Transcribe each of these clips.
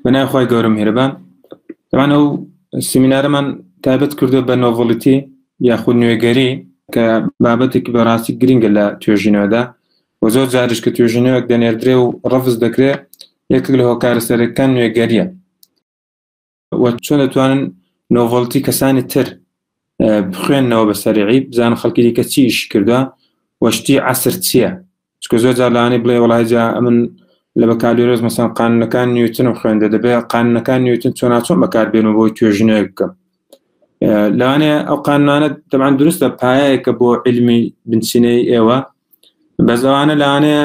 بەنای خی گەورە میهرەبان ئەمان ئەو سیمینارەمان تایبەت کردو بە نۆڤڵیتی یاخود نوێگەری کە بابەتێک بەڕاستی گرنگە لە توێژینەوەدا و زۆر جارش کە توێژینەوەک دەنێردرێ و ڕفز دەکرێت یەکێک لە هۆکارە سەرەکان نوێگەریە و چۆن دەتوانن نۆڤڵتی کەسانی تر بخوێندنەوە بە سەرعی بزان خەڵکی دیکە چی ئیشی کردوە وەشتی عسر چییە چکە زۆر جارلانی بڵێ وڵایجا ئەمن لە بەکالۆرۆز مەسان قانونەکان نیوتن و خوێندە دەبێت قانونەکان نیوتن چۆناچۆن بەکاربێنەوە بۆی توێژینەوە بکەم لەوانەیە ئەو قانونانە دەبان دروستە پایەکە بۆ علمی بنچینەی ئێوە بەزەوانە لەوانەیە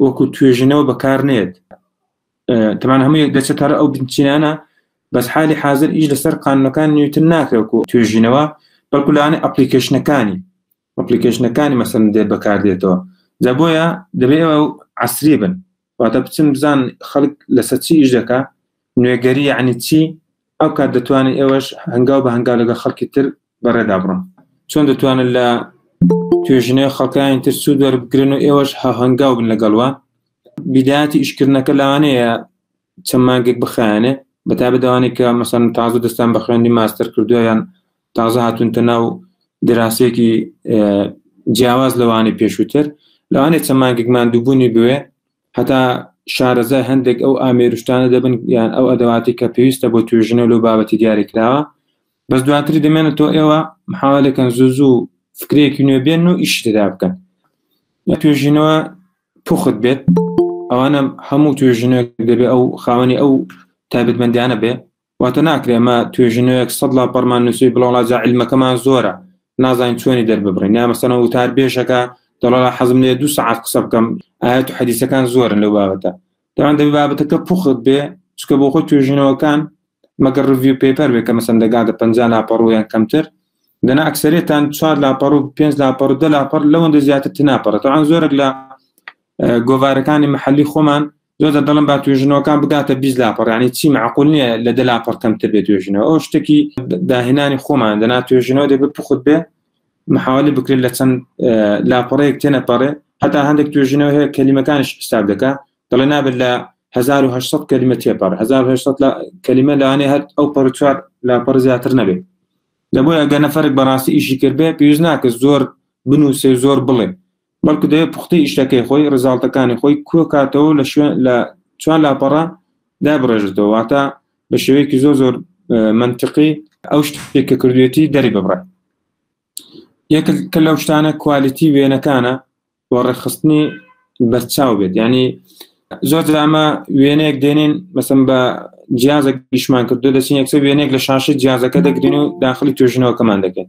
وەکو توێژینەوە بەکار نێت تەمان هەموو یەک دەچێت هەر ئەو بنچینانە بەس حالی حاضر ئیش لەسەر قانونەکان نیوتن ناکرێکو توێژینەوە بەڵکولانە ئەپلیکیشنەکانی ئەپلیکیشنەکانی مەسن دێت بەکاردێتەوە جا بۆیە دەبێت عسری بن واتە بچن بزان خەڵک لەسەر چی ئیش دەکە نوێگەری عنی چی ئەو کات دەتوانێت ئێوەش هەنگاو بە هەنگاو لەگە خەڵکی تر بەڕێدا بڕۆن چۆن دەتوانن لە توێژینەوەی خەڵکانی تر سوود وەربگرن و ئێوەش هەنگاو بن لەگەڵوە بیداتی ئیشکردنەکە لەوانەیە چەند مانگێک بخایەنێ بەتا بدەوانێت کە مەسەن تازە دەستان بە خوێندی ماستەر کردویان تازە هاتونتە ناو دراسێکی جیاواز لەوانی پێشووتر لەوانێت چەند مانگێکمان دووبوونی بوێ هەتا شارەزای هەندێک ئەو ئامێرشتانە دەبن یان ئەو ئەدەواتی کە پێویستە بۆ توێژنە لەو بابەتی دیاریکراوە بەس دواتری دەمێنە تۆ ئێوە محاولەکەن زوو زوو فکرێکی نوێ بێن و ئیش تێدا بکەن لە توێژینەوە پوخت بێت ئەوانە هەموو توێژینەوە دەبێ ئەو خاوەنی ئەو تابێتمەندیانە بێ واتە ناکرێمە توێژینەوەک سەد لا پەرمان نووسی بڵاڵا زعلمەکەمان زۆرە نازانین چۆنی دەرببڕین یا مەسەنە وتار بێژەکە دەڵا حەزم لێ دو سعات قسە بکەم ئاەت و حەدیسەکان زۆرن لەو بابەتە دەوان دەبێت بابەتەکە پوخت بێ چکە بۆ خۆی توێژینەوەکان مەگە ڕڤیو پێپەر بێ کە مەسەن دەگاتە پ لاپەڕویان کەمتر دەنا ئەکسەرێتان چوار لاپەڕ و پێنج لاپەڕ و دە لاپەر لەوەندە زیاتر تناپەڕێت ئەوان زۆرێک لە گۆوارەکانی محلی خۆمان زۆر دەڵم با توێژنەوەکان بگاتە بی لاپەڕانی چی معقول نییە لە دە لاپەڕ کەمتر بێت توێژنەوە ئەو شتێکی داهێنانی خۆمان دەنا توێژنەوە دەبێت پخت بێ محاولی بکرێت لە چەند لاپەڕەیەک تێنەپەڕێ هەتا هەندێک توێژینەوە هەیە کەلیمەکانش حساب دەکە دەڵێ نابێت لە 1970 کەلیمە تێپەڕ 1970 کەلیمە لەوانێ هەر ئەو پەرچوار لاپەڕ زیاتر نەبێت لە بۆیە گەنە فەرق بەڕاستی ئیشی کردبێ پێویست ناکە زۆر بنووسێ زۆر بڵێ بەڵکو دەبێت پوختەی ئیشەکەی خۆی ڕزاڵتەکانی خۆی کۆکاتەوە لە شوێن لە چوار لاپەڕە دابڕێژێتەوە واتە بە شێوەیەکی زۆر زۆر منطقی ئەو شتێک کە کردوێتی دەری ببڕێ یەک کە لەو شتانە کوالیتی وێنەکانە و ڕێخستنی بەرچاو بێت ینی زۆر ئەمە وێنەیەک دێنین مەسم بە جیازە گیشمان کردو دەچین یەکسە وێنێک لە شاشە جیازەکە دەگرین و داخلی توێژنەوەکەمان دەکەین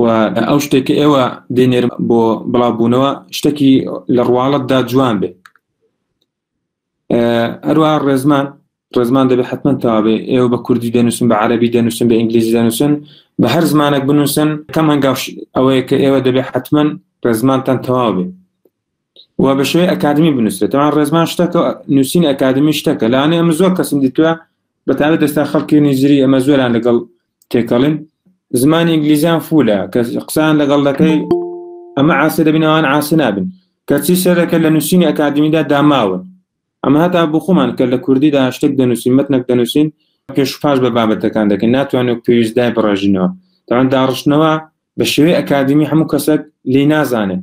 و ئەو شتێک کە ئێوە دێنێرم بۆ بڵاوبوونەوە شتێکی لە ڕواڵەتدا جوان بێ هەروە ڕێزمان ڕێزمان دەبێت حتمما تاابێ ئێوە بە کوردی دەنووسن بە عربی دەنووسن بە ئینگلیزی دەنووسن بە هەر زمانێک بنووسن کەم هەنگاوش ئەوەیە کە ئێوە دەبێت حتمما ڕێزمانتان تەواو بێت و بە شێوەی ئەکادمی بنووسێت تەوان ڕێزمان شتەکە نووسین ئەکادمی شتەکە لاانێ ئەمە زۆر کەسم دیتوە بەتابێت دەستا خەڵکی نیزری ئەمە زۆران لەگەڵ تێکەڵین زمانی ئینگلیزیان فولە کە قسان لەگەڵ دەکەی ئەمە عاسی دەبینەوەوان عاسی نابن کەچی سەرەکە لە نووسینی ئەکادمیدا داماون ئەمە هەتا بخۆمان کە لە کوردیدا شتێک دەنووسین مەتنەک دەنووسین پێش پاش بە بابەتەکان دەکەن ناتوانێت پێویستدای بڕێژینەوە تاوان داڕشتنەوە بە شێوەی ئەکادمی هەموو کەسێک لی نازانێت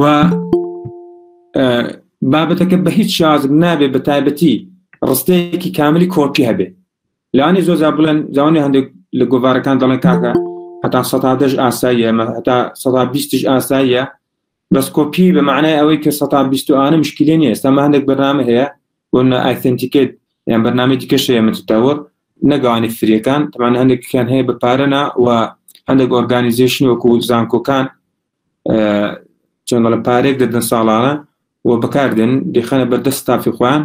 و بابەتەکە بە هیچ شازم نابێت بە تایبەتی ڕستەیەکی کاملی کۆپی هەبێ لانی زۆزا بڵێن جوانی هەندێک لە گۆڤارەکان دەڵێن کاکە هەتا سەدا دەش ئاساییە مە هەتا سەدا بیستش ئاساییە بەس کۆپی بە معنای ئەوەی کە سەدا بیست و ئانە مشکلی نیە ئێستا هەندێک بەنامە هەیە بۆ نە ئایتنتیکێت یان بەنامی دیکەشەیە متتەوەر نەگەوانی فریەکان تەمان هەندێکیان هەیە بە پارەنا و هەندێک ئۆرگانیزیشن وەکو زانکۆکان چۆن دەڵێ پارەیەک دەدەن ساڵانە و بەکاردێن دەخەنە بەردەست ستافی خۆیان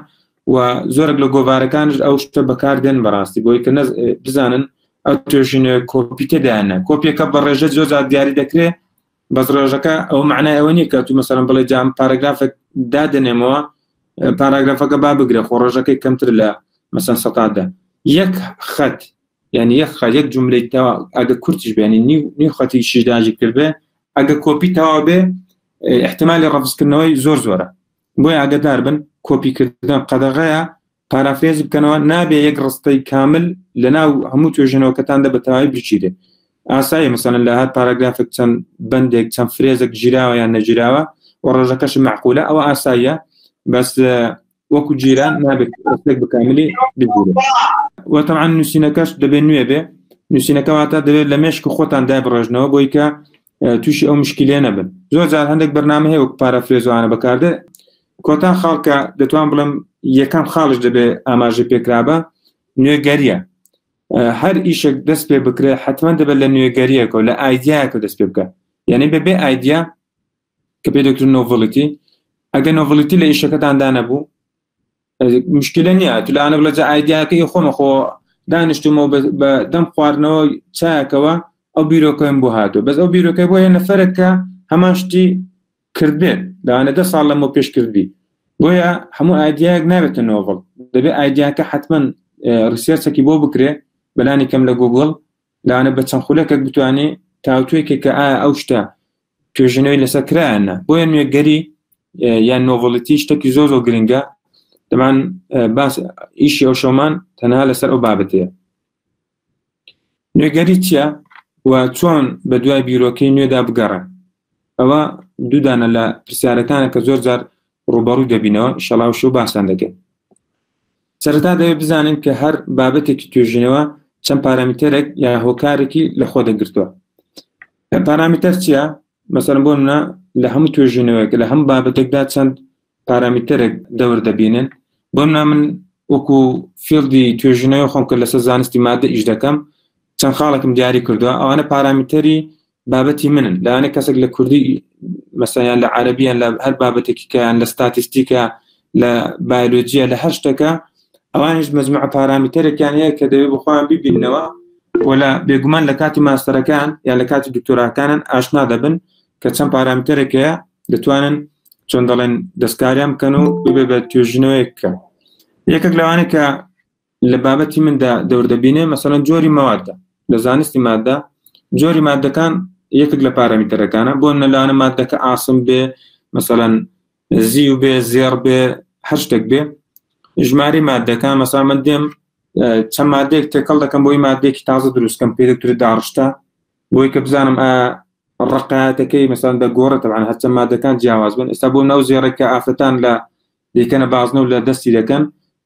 و زۆرێک لە گۆوارەکانش ئەو شتە بەکاردێن بەڕاستی بۆی کە بزانن ئەو توێژینە کۆپیتەدایانە کۆپیەکە بە ڕێژە زۆر زار دیاری دەکرێت بەس ڕێژەکە ئەو معنای ئەوە نیە کە تو مەسەرم بڵێ جام پاراگرافێک دادنێمەوە پاراگرافەکە با بگرە خۆ ڕۆژەکەی کەمتر لە مەسەن سەدە یەک خەت یعنی یەک خە یەک جملەی تەوا ئەگە کورتش بێنی نیو نیو خەتی شیداژی کردێ ئەگە کۆپی تەوا بێ احتمالی ڕفزکردنەوەی زۆر زۆرە بۆی ئاگدار بن کۆپیکردن قەدەغەیە پارافێز بکەنەوە نابێ یەک ڕستەی کامل لە ناو هەموو توێژنەوەکەتاندا بەتەواوی بچیرێ ئاسایی مەسەن لە هەر پاراگرافێک چەند بەندێک چەند فرێزێک گیراوە یان نەگیراوە و ڕۆژەکەش معقولە ئەوە ئاساییە بەس وەکو جیران نابێت ڕستێک بکاملی بگیرێت و تەعاان نووسینەکەش دەبێت نوێ بێ نووسینەکەواتە دەبێت لە مێشک خۆتان دای بڕێژنەوە بۆی کە تووشی ئەو مشکلێ نەبن زۆر جار هەندێک بەرنامە هەیە وەک پارافرێزوانە بەکاردێ کۆتا خاڵکە دەتوان بڵم یەکەم خاڵش دەبێت ئاماژە پێکرابە نوێگەریە هەر ئیشێک دەست پێ بکرێت حتمما دەبێت لە نوێگەریەکە و لە ئایدیایەکە دەست پێ بکە یعنی بەبێ ئایدیا کە پێی دەکرد نۆڤڵیتی ئەگە نۆڤڵیتی لە ئیشەکەتاندا نەبوو مشکلە نییە تو لەانە بڵە جە ئایدیاکەی خۆمە خۆ دانیشتمەوە بە دەم خواردنەوە چاکەوە ئەو بیرۆکەم بۆ هاتو بەس ئەو بیرۆکە بۆ یە نەفرەکە هەمان شتی کردێت داوانە دە ساڵ لەمە پێش کردی بۆیە هەموو ئایدیاک نابێتە نۆڤڵ دەبێت ئایدیاکە حتمما ڕسیەرچەکی بۆ بکرێ بەلانی کەم لە گوگل لەوانە بە چەند خولەکەک بتوانێ تاوتوێکێک کە ئایا ئەو شتە توێژنەوەی لەسەر کرایانە بۆیە نوێگەری یان نۆڤڵەتی شتێکی زۆ زۆ گرنگە دەمان باس ئیشی ئەو شەمان تەنها لەسەر ئەو بابەتەیە نوێگەری چیە و چۆن بە دوای بیرۆکەی نوێدا بگەڕێ ئەوە دوو دانە لە پرسیارەکانە کە زۆر جار ڕووبەڕووی دەبینەوە ئیشەڵا و شەو باسان دەکەین سەرەتا دەوێت بزانین کە هەر بابەتێکی توێژینەوە چەند پارامتەرێک یا هۆکارێکی لە خۆ دەگرتووە پارامتەر چییە مەسەر بۆ منە لە هەموو توێژینەوەیەک لە هەم بابەتێکدا چەند پارامتەرێک دەور دەبینن بۆ نا من وەکو فیلدی توێژینەوە خۆم کە لەسەر زانستی مادە ئیش دەکەم چەند خاڵێکم دیاری کردووە ئەوانە پارامتەری بابەتی منن لایەنە کەسێک لە کوردی مەسەیان لە عربیان لە هەر بابەتێکی کەیان لە ستاتیستیکە لە بایلۆجیە لە هەر شتەکە ئەوانش مەزمع پارامیتەرێکیان هەیە کە دەوێت بخۆیان ببینەوە وەلا بێگومان لە کاتی ماستەرەکان یا لە کاتی دکتۆراکانن ئاشنا دەبن کە چەند پارامیتەرێکەیە دەتوانن چۆن دەڵێن دەستکاریان بکەن و ببێ بە توێژنەوەیەکە یەکێک لەوانە کە لە بابەتی مندا دەوردەبینێ مەسەلەن جۆری مەواددا لە زانستی مادە جۆری مادەکان یەکێک لە پارەمیتەرەکانە بۆ نەلانە مادەکە ئاسم بێ مەسەلەن زیو بێ زێڕ بێ هەر شتێک بێ ژماری مادەکان مەسا من دێم چەند مادێک تێکەڵ دەکەم بۆی مادێکی تازە دروستکەم پێ دکتوری داڕشتە بۆی کە بزانم ڕقاتەکەی مەسان دەگۆڕە تەوان هەرچە مادەکان جیاواز بن ئێستا بۆ ناو زێڕێکە ئافرەتان لە دیکەنە بازنە و لە دەستی دەکەن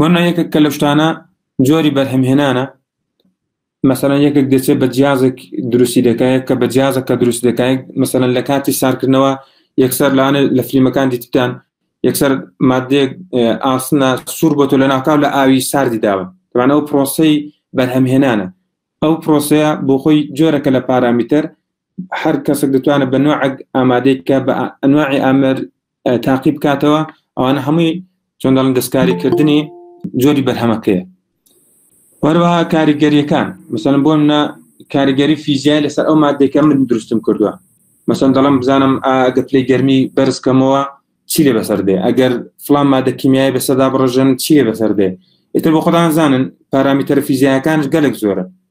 وەرنا یەکێک کە لەو شتانە جۆری بەرهەمهێنانە مەسەەن یەکێک دەچێت بە جیازێک دروستی دەکایە کە بە جیازە کە دروست دەکایە مەسەن لە کاتی سارکردنەوە یەکسەر لاانێ لە فلیمەکان دیتان یەکسەر مادێک ئاسنە سوور بۆ تۆ لە ناکاو لە ئاوی ساردی داوە دوانە ئەو پرۆسی بەرهەمهێنانە ئەو پرۆسەیە بۆ خۆی جۆرەکە لە پارامیتەر هەر کەسێک دەتوانێت بە نوعک ئامادەیت کە بە ئەنواعی ئامر تاقی بکاتەوە ئەوانە هەمووی چۆن دەڵن دەستکاریکردنی جۆری بەرهەمەکەی وەروەها کاریگەریەکان مثلەن بۆ منە کاریگەری فیزیای لەسەر ئەو مادێکە من دروستم کردووە مەسەن دەڵم بزانم ئاگە پلی گەرمی بەرزکەمەوە چی لێ بەسەر دێ ئەگەر فلان مادە کیمیای بەسەدا بڕژن چیە بەسەر دێ ئێتر بۆ خۆدان زانن پارامیتەر فیزیاکانش گەلک زۆرە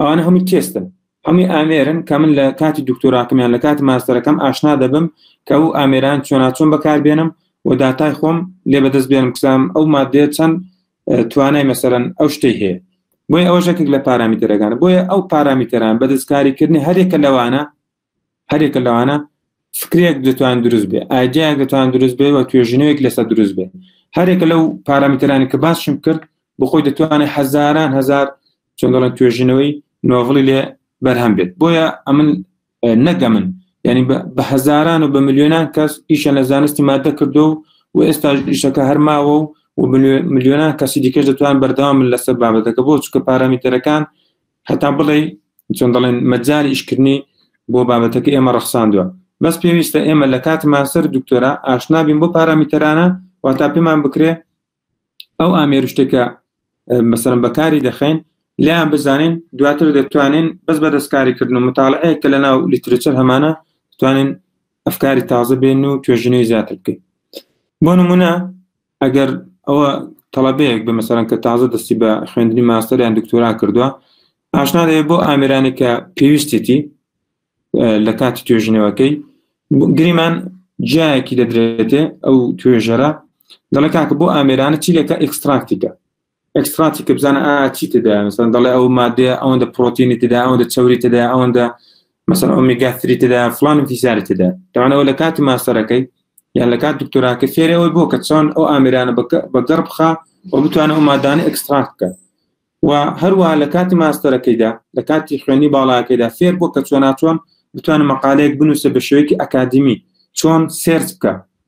ئەوانە هەمووی تێستن هەمووی ئامێرن کە من لە کاتی دکتۆراکەمیان لە کاتی ماستەرەکەم ئاشنا دەبم کە ئەو ئامێران چۆناچۆن بەکاربێنم و داتای خۆم لێ بەدەست بێنم کسام ئەو مادێ چەند توانای مەسەرەن ئەو شتەی هەیە بۆی ئەوەشەکێک لە پارامیتەرەکان بۆیە ئەو پارامیتەران بە دەستکاریکردنی هەرێکە لەوانە هەریەکە لەوانە فکرێک دەتوان دروست بێ ئایدیایەک دەتوان دروست بێ و توێژینەوەیەک لەسەر دروست بێ هەرێکە لەو پارامترانی کە باسشم کرد بخۆی دەتوانێت هەزاران هزار چندڵەن توێژینەوەی نۆڤڵی لێ بەرهەم بێت بۆیە ئەمن نەگەمن ینی بە هەزاران و بە میلیۆنان کەس ئیشە لە زانستی مادە کردو و ئێستا ئیشەکە هەرماوە و و میلیۆنان کەسی دیکەش دەتوان بەردەوام لەسەر بابەتەکە بۆ چکە پارامیتەرەکان هەتا بڵێ چۆن دەڵێن مەجاری ئیشکردنی بۆ بابەتەکە ئێمە ڕەخساندووە بەس پێویستە ئێمە لە کاتی ماستەر دکتۆرا ئاشنابین بۆ پارامیتەرانە واتا پێمان بکرێ ئەو ئامێرشتێکە مەسەرم بەکاری دەخەین لیان بزانین دواتر دەتوانین بەس بە دەستکاریکردن و متالعەیە کە لە ناو لیترچەر هەمانە توانین ئەفکاری تازە بێن و توێژنەوەی زیاتر بکەین بۆ نمونە ئەگەر ئەوە تەڵەبەیەک بە مەسەرەن کە تازە دەستی بە خوێندنی ماستەریان دکتۆرا کردووە ئاشنا دەێت بۆ ئامرانی کە پێویستێتی لە کاتی توێژینەوەکەی گریمان جایەکی دەدرێتێ ئەو توێژەرە دەڵێ کاکە بۆ ئامێرانە چی لەکە ئەکستراکتیکە ئەکسترانتی کە بزانە ئا چی تدا مەسەن دەڵێ ئەو مادێ ئەوەندە پرۆتینی تدا ئەوەندە چوری تدا ئەوەندە مەسەر ئۆمیگاتری تدا فلان فیزاری تدا داوانەوە لە کاتی ماستەرەکەی یان لە کات دکتۆراکە فێرەوەی بۆ کە چۆن ئەو ئامرانە بە گەڕ بخە و بتوانە ئەو مادانە ئەکسترانت بکە و هەروە لە کاتی ماستەرەکەیدا لە کاتی خوێنی باڵاکەیدا فێر بۆ کە چۆناچۆن بتوانە مەقالەیەک بنووسە بە شوێکی ئەکادمی چۆن سێرچ بکە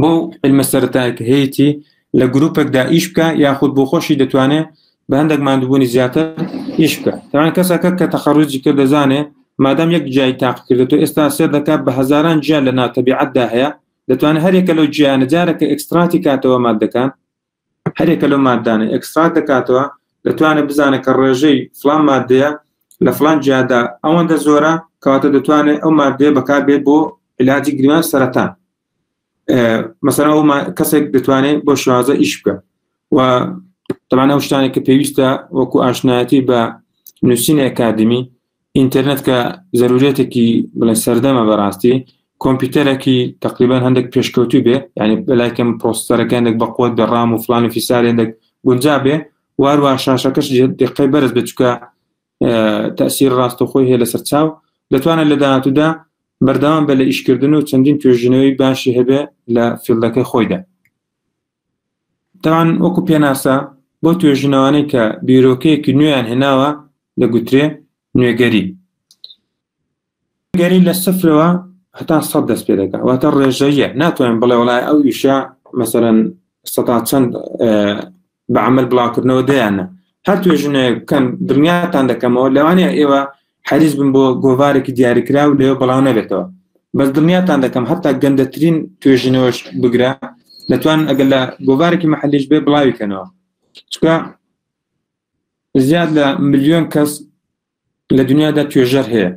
بەو علمە سەرەتایە کە هەیەتی لە گروپێکدا ئیش بکە یاخود بۆ خۆشی دەتوانێت بە هەندێک مادبوونی زیاتر ئیش بکە تاوان کەسەکە کە تەخەڕوجی کە دەزانێ مادەم یەک جای تاق کردێت و ئێستا سێر دەکات بە هەزاران جیا لە ناتەبیعەتدا هەیە دەتوانێت هەرێکە لەو جیانە جارەکە ئەکستراتی کاتەوە مادەکان هەریەکە لەو ماددانە ئێکستڕات دەکاتەوە، دەتوانێت بزانێت کە ڕێژەی فڵان ماددەیە لە فڵان جیادا ئەوەندە زۆرە، کەواتە دەتوانێت ئەو ماددەیە بەکاربێت بۆ علاجی گران سەرەتان مەسەرە ئەو کەسێک دەتوانێت بۆ شوازە ئیش بکە و تەمانە شتانێک کە پێویستە وەکو ئاشنایەتی بە نووسینی ئەکادمی ئینتەرنێت کە زەروریەتێکی بڵێ سەردەمە بەڕاستی کۆمپیوتەرەکی تقریبان هەندێک پێشکەوتوو بێ ینی بەلایکەم پۆستەرەکە هەندێک بەقوت بە ڕام و فلان و فیسار هەندێک گونجا بێ واروا شاشەکەش دقی بەرز بچکە تەسیر ڕاستەخۆی هەیە لەسەر چاو دەتوانێت لە داهاتوودا بەردەوام بە لە ئیشکردن و چەندین توێژینەوەی باشی هەبێ لە فیلدەکەی خۆیدا تاوان وەکو پێناسە بۆ توێژینەوانەی کە بیرۆکەیەکی نوێیان هێناوە دەگوترێ نوێگەری گەری لە سفرەوە هەتا سەد دەست پێ دەکە واتە ڕێژەیە ناتوانین بڵێ وڵای ئەو ویشە مەسەرەن سەتا چەند بە عمل بڵاوکردنەوە دەیانە هەر توێژنێ بکەن دڵنیاتان دەکەمەوە لەوانەیە ئێوە حەریص بن بۆ گۆڤارێکی دیاریکراو لەوێ بڵاو نەبێتەوە بەس دڵنیاتان دەکەم هەتا گەندەترین توێژینەوەش بگرە دەتوان ئەگەر لە گۆڤارێکی محلیش بێ بڵاوی کەنەوە چکە زیاد لە ملیۆن کەس لە دنیادا توێژەر هەیە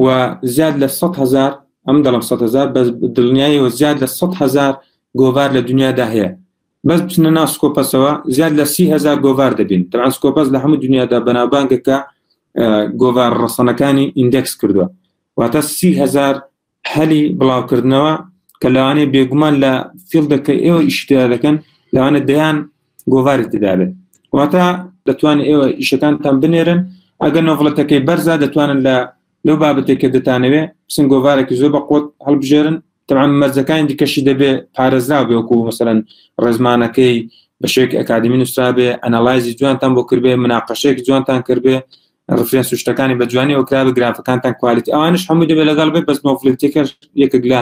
و زیاد لە 100 هزار ئەم دەڵم 100 هزار بەس دڵنیایەوە زیاد لە 100 هزار گۆڤار لە دنیادا هەیە بەس بچنە ناو سکۆپەسەوە زیاد لە سی هزار گۆڤار دەبین تەعا سکۆپەس لە هەموو دنیادا بەناوبانگە کە گۆڤار ڕەسەنەکانی ئیندێکس کردووە واتە سی هزار هەلی بڵاوکردنەوە کە لەوانەیە بێگومان لە فیلدەکە ئێوە ئیشتیا دەکەن لەوانە دەیان گۆڤاری تدابێت واتە دەتوان ئێوە ئیشەکانتان بنێرن ئەگەر نۆڤڵەتەکەی بەرزە دەتوانن لە لەو بابەتێک کە دەتانەوێ بسن گۆڤارێکی زۆر بە قۆت هەڵبژێرن تەعام مەرجەکانی دیکەشی دەبێ پارێزرا بێوەکو مەسەرەن ڕێزمانەکەی بە شێک ئەکادمی نووسرابێ ئەنەلایزی جوانتان بۆ کردێ مناقەشێک جوانتان کردێ ڕفرێن سوشتەکانی بە جوانی ئەوکرابە گرافەکانتان کوالیت ئەوانش هەموو دەبێت لەگەڵ بێت بەس نۆفلتێکە یەکێک لە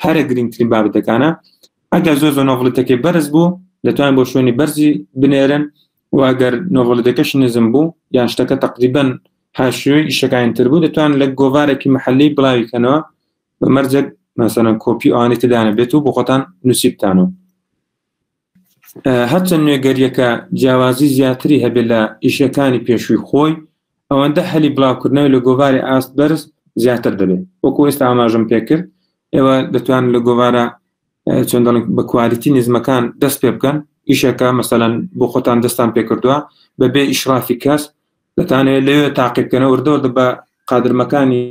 هەرە گرنگترین بابەتەکانە ئەگەر زۆر زۆر نۆفلتەکەی بەرز بوو دەتوان بۆ شوێنی بەرزی بنێرن و ئەگەر نۆڤەلدەکەش نزم بوو یان شتەکە تەقریبەن هاشوێ ئیشەکانی تر بوو دەتوان لە گۆڤارێکی محلی بڵاوی کەنەوە بە مەرجەک مەسەرەن کۆپی ئەوانی تدانە بێت و بۆ خۆتان نووسیبتانەوە هەرچەند نوێگەریەکە جیاوازی زیاتری هەبێت لە ئیشەکانی پێشووی خۆی ئەوەندە هەلی بڵاوکردنەوە لە گۆڤاری ئاست بەرز زیاتر دەبێت وەکو ئێستا ئاماژم پێکرد ئێوە دەتوان لە گۆوارە چۆن دەڵێن بە کوالیتی نزمەکان دەست پێ بکەن ئیشەکە مەسەەن بۆ خۆتان دەستان پێ کردووە بە بێ ئیشرافی کەس دەتانێت لەوێ تاقیبکەنە وردەوردە بە قادرمەکانی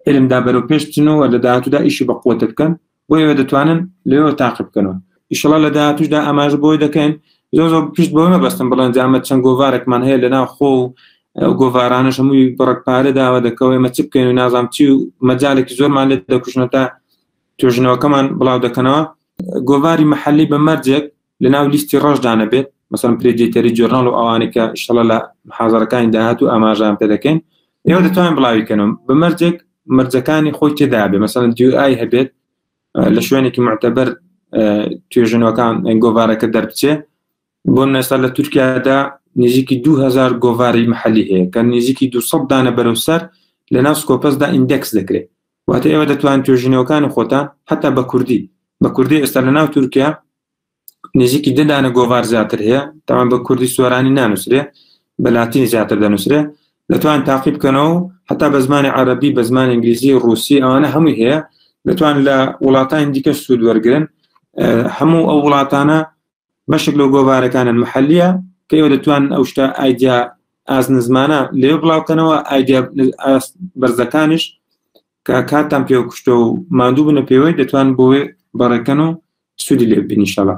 علمدا بەرەو پێشتنەوە لە داهاتوودا ئیشی بە قوت بکەن بۆ ئێوە دەتوانن لەوێ تاقی بکەنەوە ئیشڵە لە داهاتوشدا ئاماژ بۆی دەکەین زۆر زۆر پشت بۆ مەبەستم بڵێن جامە چەند گۆوارێکمان هەیە لە ناو خۆ و گۆڤارانش هەمووی بڕک پارە داوە دەکەوەی مە چ بکەین و نازام چی و مەجالێکی زۆرمان لێت دەکوشنە تا توێژینەوەکەمان بڵاو دەکەنەوە گۆڤاری محلی بە مەرجێک لە ناو لیستی ڕەشدانەبێت مەسەن پرێدیتەری جۆرنال و ئەوانەی کە شڵە لە حازەرەکانی داهات و ئاماژان پێ دەکەین ئێوە دەتوانین بڵاویکەنم بە مەرجێک مەرجەکانی خۆی تێدا بێ مەسەن دیای هەبێت لە شوێنێکی معتەبەر توێژنەوەکان گۆڤارەکە دەربچێ بۆ نەستا لە تورکیادا نزیکی 2000 گۆڤاری محلی هەیە کە نزیکی 200 دانە بەرەو سەر لە ناو سکۆپەسدا ئیندەکس دەکرێت واتە ئێوە دەتوان توێژینەوەکانی خۆتان حتا بە کوردی بە کوردی ئێستا لە ناو تورکیا نزیکی دەدانە گۆڤار زیاتر هەیە تاوان بە کوردی سۆرانی نانووسرێ بە لاتین زیاتر دەنووسرێ دەتوان تاقی بکەنەوە حتا بە زمانی عربی بە زمان ئینگلیزی ڕوسی ئەوانە هەمووی هەیە دەتوان لە وڵاتانی دیکە سوود وەرگن هەموو ئەو وڵاتانە بەشێک لەو گۆڤارەکانە محلیە کە ئێوە دەتوان ئەو شتە ئایدیا ئاز نزمانە لێ بڵاوکەنەوە ئایدیا بەرزەکانش کە کاتان پێ کوشتە و مادوو بنە پێوەی دەتوان بۆێ بەڕێکەن و سوودی لێ بینیشەڵە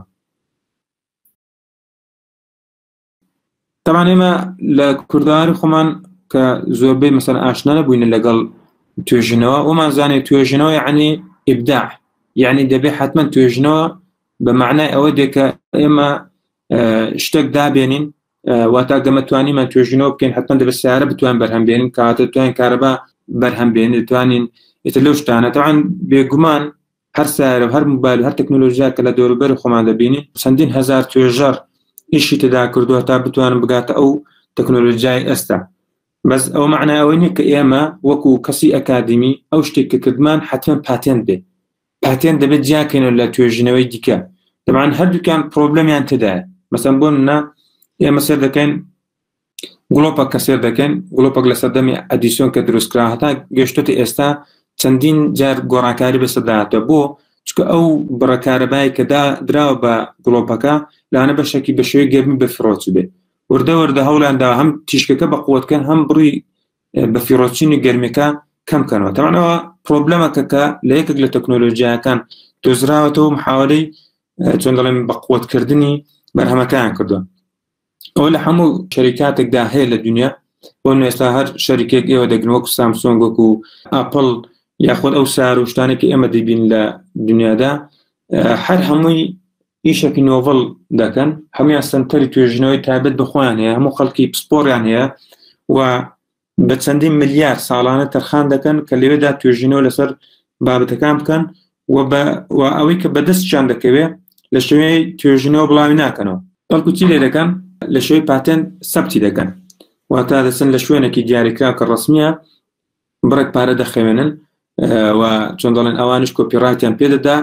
تەمان ئێمە لە کورداری خۆمان کە زۆربەی مەسەر ئاشنا نەبووینە لەگەڵ توێژنەوە ئەومان زانێت توێژنەوە یعنی ئبدا یعنی دەبێ حتمما توێژنەوە بە معنای ئەوە دێکە ئێمە شتێک دابێنین واتا گەمەتوانیمان توێژنەوە بکەین حتمما دەبێت سیارە بتوان بەرهەم بێنین کاتە توان کارەبا بەرهەم بێن دەتوانین ئتر لەو شتانە تاوان بێگومان هەر سایەرە و هەر موبایل و هەر تەکنۆلۆژیایەک کە لە دەوروبەری خۆمان دەبینین، چەندین هەزار توێژەر ئیشی تێدا کردووە تا بتوانن بگاتە ئەو تەکنۆلۆژیای ئێستا. بەس ئەوە مەعنای ئەوە نییە کە ئێمە وەکو کەسی ئەکادیمی ئەو شتێک کە کردمان حەتمەن پاتێنت بێت. پاتێنت دەبێت جیا بکەینەوە لە توێژینەوەی دیکە. تەبعەن هەردووکیان پرۆبلەمیان تێدایە. مەسەن بۆ نمونە ئێمە سەیر دەکەین گڵۆپە کە سێر دەکەین گڵۆپەک لە سەردەمی ئەدیسۆن کە دروستکرا هەتا گەشتێتی ئێستا چەندین جار گۆڕانکاری بەسەداهاتە بۆ چکە ئەو بڕەکارەبای کەدا دراوە بە گڵۆپەکە لاەنە بەشێکی بە شێوی گەرمی بەفرۆچ بێ وردە وردە هەولادا هەم تیشکەکە بە قوتکەن هەم بڕی بە فیرۆچینی گەرمەکە کەم کەنەوە تەمانەوە پرۆبلەمەکە کە لە یەکێک لە تەکنۆلۆژیاکان دۆزراوەتەوە محاولەی چۆن دەڵێن بە قوتکردنی بەرهەمەکان کردو ئەوە لە هەموو شەریکاتێکدا هەیە لە دنیا بۆ نوێستا هەر شەریکێک ئێوە دەگرن وەکو سامسۆنگ وەکو ئاپل یاخۆن ئەو سار و شتانێکی ئێمە دەبین لە دنیادا هەر هەمووی ئیشێکی نۆڤڵ دەکەن هەمویان سنتەری توێژنەوەی تابێت بخۆیان هەیە هەموو خەڵکی پسپۆریان هەیە و بە چەندین ملیار ساڵانە تەرخان دەکەن کە لەوێدا توێژینەوە لەسەر بابەتەکان بکەن و بە و ئەوەی کە بەدەستیان دەکەوێت لە شوێ توێژینەوە بڵاوی ناکەنەوە بەڵکو چی لێ دەکەن لە شوێ پاتێن سەبتی دەکەن واتا دەچن لە شوێنێکی دیاریکراو کە ڕسمیە بڕێک پارە دەخەوێنن و چۆن دەڵێن ئەوانش کۆپیڕاتیان پێدەدا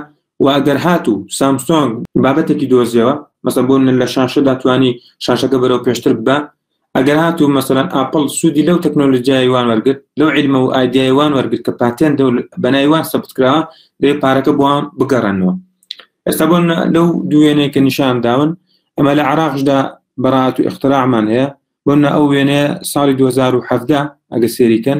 و ئەگەر هات و سامسۆنگ بابەتێکی دۆزیەوە مەسە بۆ من لە شاشە داتوانی شاشەکە بەرەو پێشتر بە ئەگەر هات و مەسەرەن ئاپل سوودی لەو تەکنۆلۆژیایوان وەرگرت لەو علمە و ئایدیایوان وەرگرت کە پاتێن بەنایوان سەبتکراوە دێ پارەکە بۆوان بگەڕنەوە ئێستا بۆن لەو دوێنەی کە نیشان داون ئەمە لە عراقشدا بەڕات و اختراعمان هەیە بۆن ئەو وێنەیە ساڵی 2017 ئەگە سێریکەن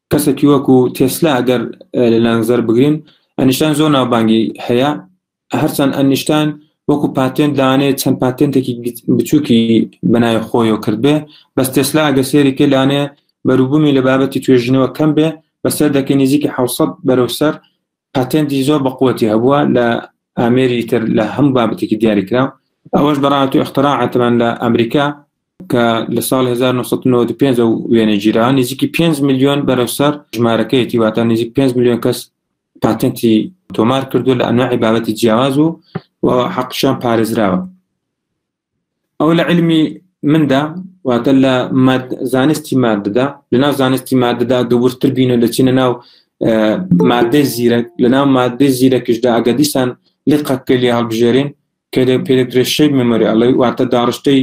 کەسەکی وەکو تێسلا ئەگەر لە لانگزەر بگرین ئەنیشتان زۆر ناوبانگی هەیە هەرچەند ئەنیشتان وەکو پاتێن دانێ چەند پاتێنتێکی بچووکی بەناوی خۆیەوە کردبێ بەس تێسلا ئەگە سێری کە لانێ بەروبوومی لە بابەتی توێژینەوە کەم بێ بەسەر دەکەی نزیکی حوسەت بەرەو سەر پاتێنتی زۆر بەقوەتی هەبووە لە ئامێری تر لە هەم بابەتێکی دیاریکراو ئەوەش بەڕات و اختراعاتمان لە ئەمریکا کە لە ساڵ 1995 و وێنە گیرا نزیکی 5 میلیۆن بەرەسەر ژمارەکەیەتی واتە نزیک 5 میلیۆن کەس پاتنتی تۆمار کردو لە ئەنواعی بابەتی جیاواز و و حەقشان پارێزراوە ئەو لە علمی مندا واتە لە زانستی مادەدا لەناو زانستی مادەدا دوورتر بین و دەچینە ناو مادەی زیرەک لە ناو مادەی زیرەکیشدا ئەگە دیسان لقەکە لێ هەڵبژێرین کە لە پێدەکرێت شەی مەمەری ئەڵی واتە داڕشتەی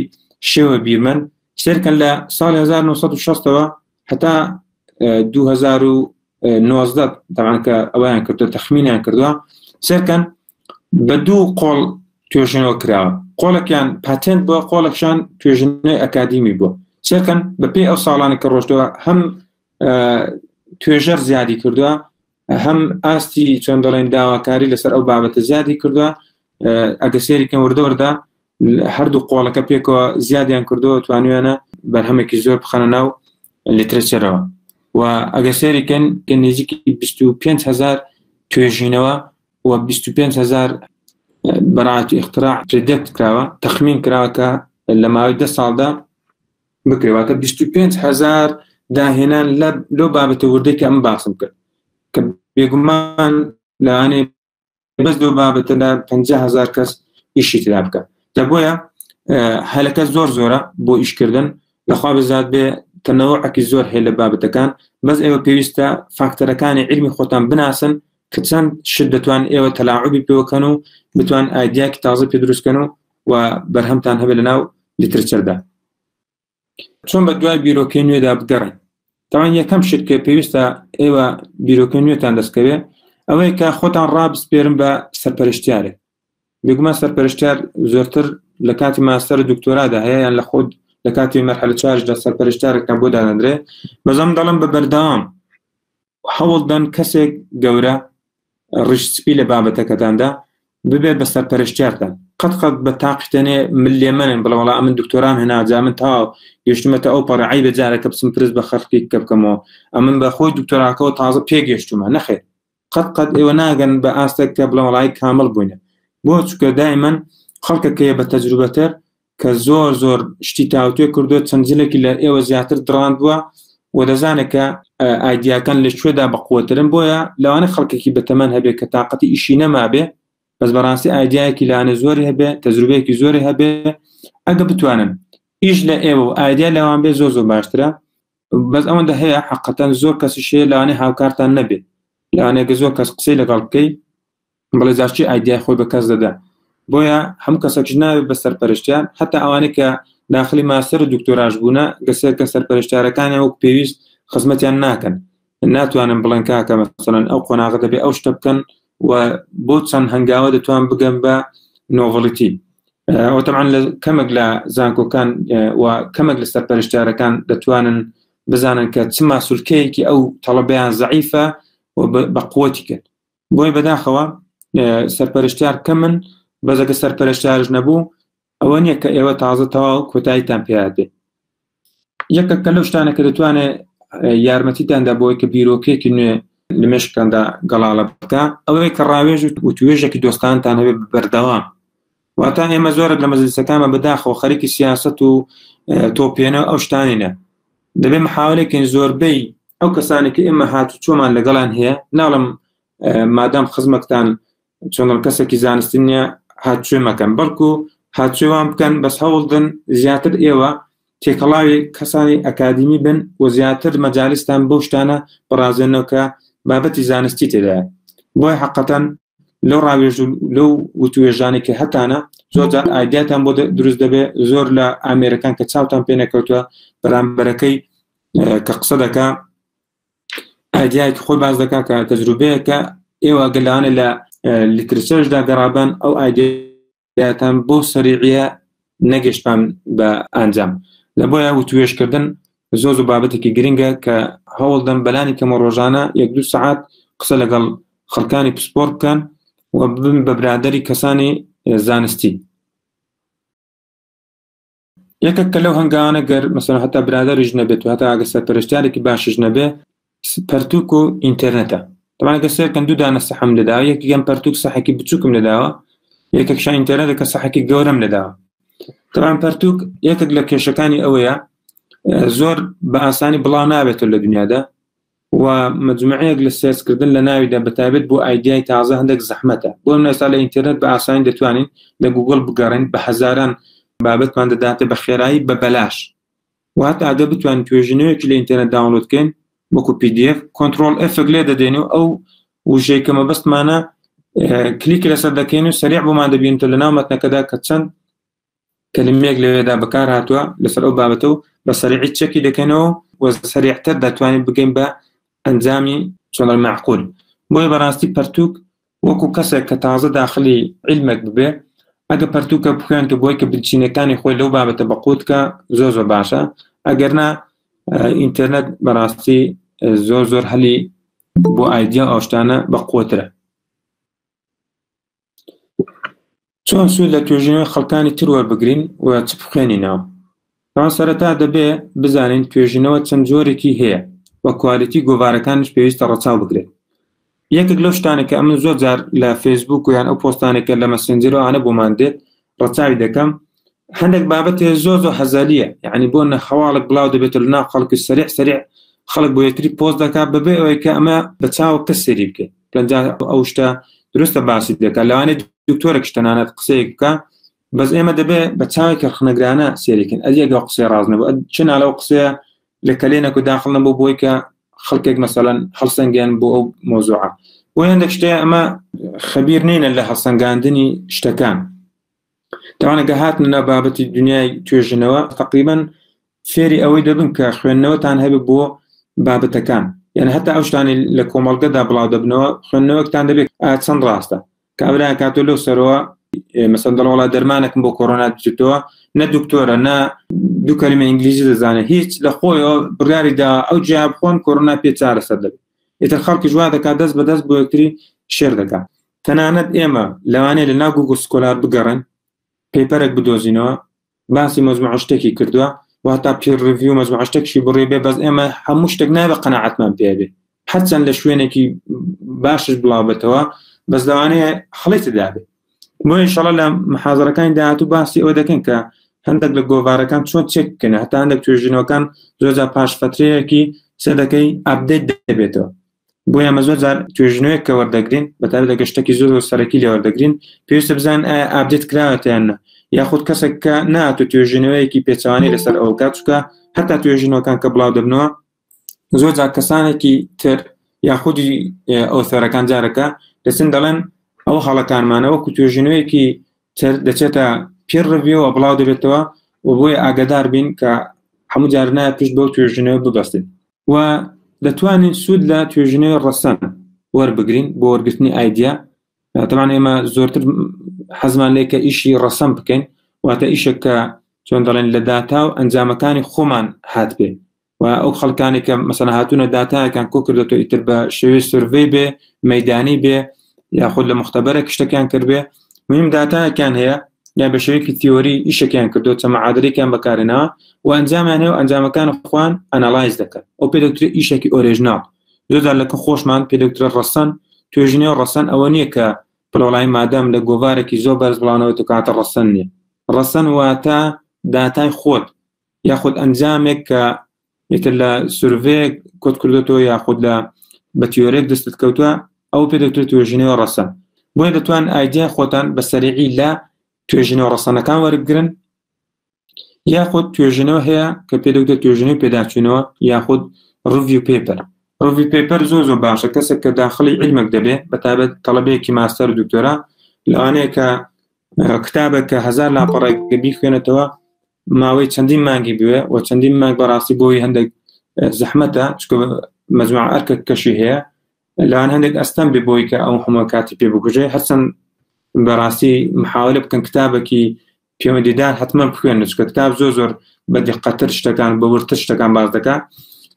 شێوە بیرمەند سێرکە لە ساڵی 1960ەوە هەتا دوو هەزار و نۆزدە تەمان کە ئەویان کردو تەخمینیان کردووە سەرکەن بە دوو قۆڵ توێژنەوە کراوە قۆڵەکیان پاتێنت بۆ قۆڵەکشان توێژنەوەی ئەکادیمی بوو سەرکەن بەپی ئەو ساڵانی کە ڕۆشتەوە هەم توێژەر زیادی کردووە هەم ئاستی چۆن دەڵێن داواکاری لەسەر ئەو بابەتە زیادی کردووە ئەگە سێریکەم وردەوەدا هەردوو قۆڵەکە پێکەوە زیادیان کردووە توانویانە بەرهەمێکی زۆر بخەنە ناو لترچەرەوە و ئەگە سێریکەن کە نێزیکی 25هزار توێژینەوە و 25هزار بەڕاتی اختراع پێدەت کراوە تەخمین کراوە کە لە ماوەی ده ساڵدا بکرێ واتە بیست و پێنج هەزار داهێنان لە لۆ بابەتە وردەی کە ئەم باسم کرد کە بێگومان لەوانێ بەس لۆ بابەتە لە پ هزار کەس ئیشی ترا بکە دە بۆیە هەلەکە زۆر زۆرە بۆ ئیشکردن لەخوا بزات بێ تەنەوە عکی زۆر هەیە لە بابەتەکان بەس ئێوە پێویستە فاکتەرەکانی علمی خۆتان بناسن کە چەند شت دەتوان ئێوە تەلاعبی پێوەکەن و بتوان ئایدیاکی تازە پێ دروستکەن و و بەرهەمتان هەبێت لەناو لیترچەردا چۆن بە دوای بیرۆکەی نوێدا بگەڕێن تاوان یەکەم شت کە پێویستە ئێوە بیرۆکە نوێتان دەستکەوێت ئەوەیە کە خۆتان ڕابسپێرم بە سەرپەرشتیارێک بگومان سەرپەرشتار زۆرتر لە کاتی ماستەر دکتۆرادا هەیە یان لە خۆت لە کاتی مەرحلە چارش لە سەرپەرشتارەکان بۆ دادەندرێ بەزەم دەڵم بە بەردەوام هەوڵدەن کەسێک گەورە ڕیشت سپی لە بابەتەکەتاندا ببێ بە سەرپەرشتیارتان قەت قەت بە تاقیتەنێ من لێ منن بڵە وڵا من دکتۆران هەناجا من تا گەشتمەتە ئەو پەڕعی بە جارەکە بچم پرس بە خەرقی کە بکەمەوە ئەمن بە خۆی دکتۆراکەەوە تازە پێگەشتومە نەخێت قەت قەت ئێوە ناگەن بە ئاستە کە بڵە وڵی کامل بووینە بۆ چکە دای من خەڵکەکەیە بە تەجروبەتر کە زۆر زۆر شتی تاوتوێ کردووە چەند جلێکی لە ئێوە زیاتر دڕاندووە و دەزانێت کە ئایدیاکان لە شوێدا بەقوترن بۆیە لەوانە خەڵکێکی بەتەمەن هەبێت کە تااقەتی ئیشی نەمابێ بەس بەڕاستی ئایدیایەکی لاانە زۆری هەبێت تەزروبەیەکی زۆری هەبێ ئەگە بتوانن ئیش لە ئێوە و ئایدیا لەوان بێ زۆ زۆ باشترە بەس ئەوەندە هەیە حقەتەن زۆر کەسی شێ لەوانێ هاوکارتان نەبێت لەوانێگە زۆر کەس قسەی لەگەڵ بکەیت بەڵێ جاش چی ئایدیای خۆی بە کەس دەدا بۆیە هەموو کەسەکش ناوێت بە سەرپەرشتیان هەتا ئەوانەی کە داخلی ماستەر و دکتۆراش بوونە گەسێت کە سەرپەرشتارەکانی وەک پێویست خزمەتیان ناکەن ناتوانن بڵێن کاکە مەسەن ئەو قۆناغە دەبێ ئەو شتە بکەن و بۆ چەند هەنگاوە دەتوان بگەم بە نۆڤڵیتی ئەوتەمان لە کەمێک لە زانکۆکان و کەمێک لە سەرپەرشتارەکان دەتوانن بزانن کە چ ماسولکەیەکی ئەو تەڵەبیان زعیفە و بە قوتی کرد بۆی بەداخەوە سەرپەرشتیار کەمن بەزەکە سەرپەرشتارش نەبوو ئەوە نییە کە ئێوە تازە تەواو کۆتاییتان پێدێ یەکە کە لەو شتانە کە دەتوانێت یارمەتیتاندا بۆی کە بیرۆکێکی نوێ لە مشکاندا گەڵاڵە بکە ئەوەی کە ڕاوێژ و توێژێکی دۆستانتان هەبێت بەردەوام واتان ئێمە زۆرە لە مەزلیسەکانمە بەداخەوە خەرکی سیاست و تۆپێنە ئەو شتانینە دەبێ محاولێکین زۆربەی ئەو کەسانی کە ئێمە هاتو چۆمان لەگەڵان هەیە ناڵم مادام خزمەکتان چۆنڵ کەسێکی زانستی نیە هاچێ مەکەن بەڵکو هاچێوان بکەن بەس هەوڵدن زیاتر ئێوە تێکەڵاوی کەسانی ئەکادیمی بن و زیاتر مەجالستان بۆ شتانە بڕازێنەوە کە بابەتی زانستی تێدایە بۆی حقەتەن لەو ڕاوێژ و لەو وتوێژانێک کە هەتانە زۆرجار ئایداتان بۆ دروست دەبێت زۆر لە ئامێرەکان کە چاوتان پێ نەکەوتوە بەرامبەرەکەی کە قسە دەکا ئایدیایکی خۆی باز دەکا کە تەجروبەیەکە ئێوە گەلانە لە لیترچەشدا گەڕابن ئەو ئایدی دەتان بۆ سەریعە نەگەشتان بە ئەنجام لە بۆیە وتوێشکردن زۆ زۆ بابەتێکی گرنگە کە هەوڵدەم بەلانی کەمە ڕۆژانە یەک دو سعات قسە لەگەڵ خەڵکانی پسپۆر بکەن و ببن بە برادری کەسانی زانستی یەکێک کە لەو هەنگاوانە گەر مەسەن هەتا برادریش نەبێت و هەتا ئەگە سەرپەرشتارێکی باشش نەبێ پەرتوک و ئینتەرنێتە تەمانگە سێکەن دوو دانە سەحم لەدا یەکی گەم پەرتوک سەحێکی بچووکم لەداوە یەکێک شان ئینتەرنێتە کە سەحێکی گەورەم لەداوە تەمان پەرتوک یەکێک لە کێشەکانی ئەوەیە زۆر بە ئاسانی بڵاو نابێتەوە لە دنیادا و مجمەعەیەک لە سێرچ کردن لە ناویدا بە تایبەت بۆ ئایدیای تازە هەندێک زەحمەتە بۆ نمونە ئێستا لە ئینتێرنێت بە ئاسانی دەتوانین لە گووگڵ بگەڕێین بە هەزاران بابەتمان دەداتێ بە خێرایی بە بەلاش و هەتا ئەگەر بتوانین توێژینەوەیەکی لە ئینتێرنێت داونلۆد بکەین وەکو PDF کۆنترۆڵ F لێ دەدەین و ئەو وژەی کە مەبەستمانە کلیکی لەسەر دەکەین و سەریع بۆمان دەبینێتە لە ناو مەتنەکەدا کە چەند کەلیمەیەک لەوێدا بەکار هاتووە لەسەر ئەو بابەتە و بە سەریعی چەکی دەکەنەوە و سەریعتر دەتوانین بگەین بە ئەنجامی چۆڵی معقول بۆیە بەڕاستی پەرتوک وەکو کەسێک کە تازە داخلی علمێک ببێ ئەگە پەرتوکە بخوێنتە بۆی کە بنچینەکانی خۆی لەو بابەتە بەقوتکە زۆر زۆر باشە ئەگەرنا ئینتەرنێت بەڕاستی زۆر زۆر هەلی بۆ ئایدیا ئەوشتانە بە قوترە چۆن سوود لە توێژینەوەی خەڵکانی تر وەربگرین و چ بخوێنینەوە؟ ئەوە سەرەتا دەبێ بزانین توێژینەوە چەند جۆرێکی هەیە و کوالیتی گۆڤارەکانیش پێویستە ڕەچاو بکرێت. یەکێک لەو شتانە کە ئەمن زۆر جار لە فەیسبووک و یان ئەو پۆستانێکە لە مەسنجەرەوانە بۆمان دێت ڕەچاوی دەکەم هەندێک بابەت هەیە زۆر زۆر هەزەلیە یعنی بۆ نەخەواڵک بڵاو دەبێتە لە ناو خەڵکی سەریع سەریع خەڵک بۆ یەکتری پۆست دەکات بەبێ ئەوەی کە ئەمە بە چاو کە سێری بکەیت پێنجا ئەو شتە درستە باسی دەکات لەوانێت دکتۆرە کشتەنانەت قسەیەک بکە بەس ئێمە دەبێت بە چاوی کە خنەگرانە سێریکن ئەریەگە قسەی ڕازنە بە چ نالەو قسەیە لە کەلێنەک و داخڵ نەبوو بۆی کە خەڵکێک مەسەەن هەڵسەنگیان بۆ ئەو مۆزوعە بۆ هەندێک شتەیە ئەمە خەبیر نینە لە هەڵسەنگاندنی شتەکان تاوانەکە هاتنە ناو بابەتی دنیای توێژنەوە تقریبان فێری ئەوەی دەبن کە خوێندنەوەتان هەبێت بۆ بابەتەکان یعنی هەتا ئەو شتانی لە کۆمەڵگەدا بڵاو دەبنەوە خوێندنەوەکتان دەبێت چەند ڕاستە کابرا کاتۆ لەو سەرەوە مەسەن دەڵۆڵا دەرمانەکم بۆ کۆرۆنا دچێتەوە نە دکتۆرە نە دوو کەلمە ئینگلیزی دەزانێت هیچ لە خۆیەوە بڕیاریدا ئەو جیا بخۆن کۆرۆنا پێ چارەسەر دەبێت ئیتر خەڵکی جووا دەکات دەست بەدەست بۆ یەکتری شێر دەکات تەنانەت ئێمە لەوانەیە لە ناو گووگڵ سکۆلار بگەڕێن پەیپەرێک بدۆزینەوە باسی مەزموع شتێکی کردووە واتا پیر ڕڤیو مەزموع شتێکشی بڕێ بێ بەس ئێمە هەموو شتێک نابە قەنەعەتمان پێ بێ هەرچەند لە شوێنێکی باشش بڵاوبێتەوە بەس لەوانەیە هەڵی تدابێ بۆ ئینشەڵە لە محازەرەکانی داهاتوو باسی ئەوە دەکەن کە هەندێک لە گۆڤارەکان چۆن چێک بکەن هەتا هەندێک توێژینەوەکان زۆرجا پاش فترەیەکی سەدەکەی ئابدێت دەبێتەوە بۆیە ئەمە زۆر جار توێژنەوەیەک کە وەردەگرین بەتابێت لەگە شتێکی زۆر و سەرەکی لێ وەردەگرین پێویستە بزان ئابدێت کراوەتیانە یاخود کەسێک کە ناتو توێژینەوەیەکی پێچوانی لەسەر ئەو کاتچکە هەتا توێژینەوەکان کە بڵاو دەبنەوە زۆر جار کەسانێکی تر یاخودی ئەو سەرەکان جارەکە دەچن دەڵێن ئەو هەڵەکانمانەوە کو توێژینەوەیەکی تر دەچێتە پێ ڕڤەوە بڵاو دەبێتەوە و بۆیە ئاگدار بین کە هەموو جارنایە پشت بەو توێژینەوە ببەستین و دەتوانین سوود لە توێژینەوەی ڕەسەن وەربگرین بۆ وەرگرتنی ئایدیا دەمان ئێمە زۆرتر حەزمان لێ کە ئیشی ڕەسەم بکەین واتە ئیشێک کە چۆن دەڵێن لە داتا و ئەنجامەکانی خۆمان هات بێ و ئەو خەڵکانی کە مەسەنە هاتوونە داتایەکان کۆ کردێتەوە ئیتر بە شێوەی سرڤەی بێ مەدانی بێ یاخود لە مختبەرە کشتەکان کردێ میم داتاکان هەیە یا بە شێوەیەکی تیۆری ئیشەکەیان کردو چەمە عادرێکیان بەکارێنەوە و ئەنجامیان هەیە و ئەنجامەکان خوان ئەناڵایز دەکەن ئەو پێ دەکتر ئیشێکی ئۆرێژناڵ زۆدار لەکە خۆشمان پێ دەکترە ڕەسەن توێژینەوە ڕەسەن ئەوە نییە کە پلۆلای مادەم لە گۆوارێکی زۆر بەرز بڵانەوە تکاتە ڕەسەن نیە ڕەسەن واتە داتای خۆت یاخود ئەنجامێک کە یەکە لە سروێک کۆت کردێتەوە یاخود لە بە تیۆرێک دەستت کەوتووە ئەو پێ دەکرێت توێژینەوە ڕەسە بۆیە دەتوان ئایدیا خۆتان بە سەرعی لە توێژینەوە ڕەسەنەکان وەرگرن یاخود توێژینەوە هەیە کە پێ دەکرێت توێژینەوە پێداچوونەوە یاخود ڕوی پێپەر ڕوی پێپەر زۆ زۆ باشە کەسێک کە داخلی علمێک دەبێت بە تابەت تەڵبەیەکی ماستەر دکتۆرا لەوانەیە کە کتابە کە هزار لاپەڕێک بیخوێنێتەوە ماوەی چەندین مانگی بوێ و چەندین مانگ بەڕاستی بۆی هەندێک زەحمەتە چکە مەجموع ئەرکە کەشی هەیە لەوان هەندێک ئەستەم بێ بۆی کە ئەو هەموو کاتی پێ بگوژێ هەرچەند بەڕاستی محاولە بکەن کتابێکی پەیوەندیدار حتمما بخوێن چکە کتاب زۆر زۆر بە دقەتر شتەکان بە ورتر شتەکان باز دەکات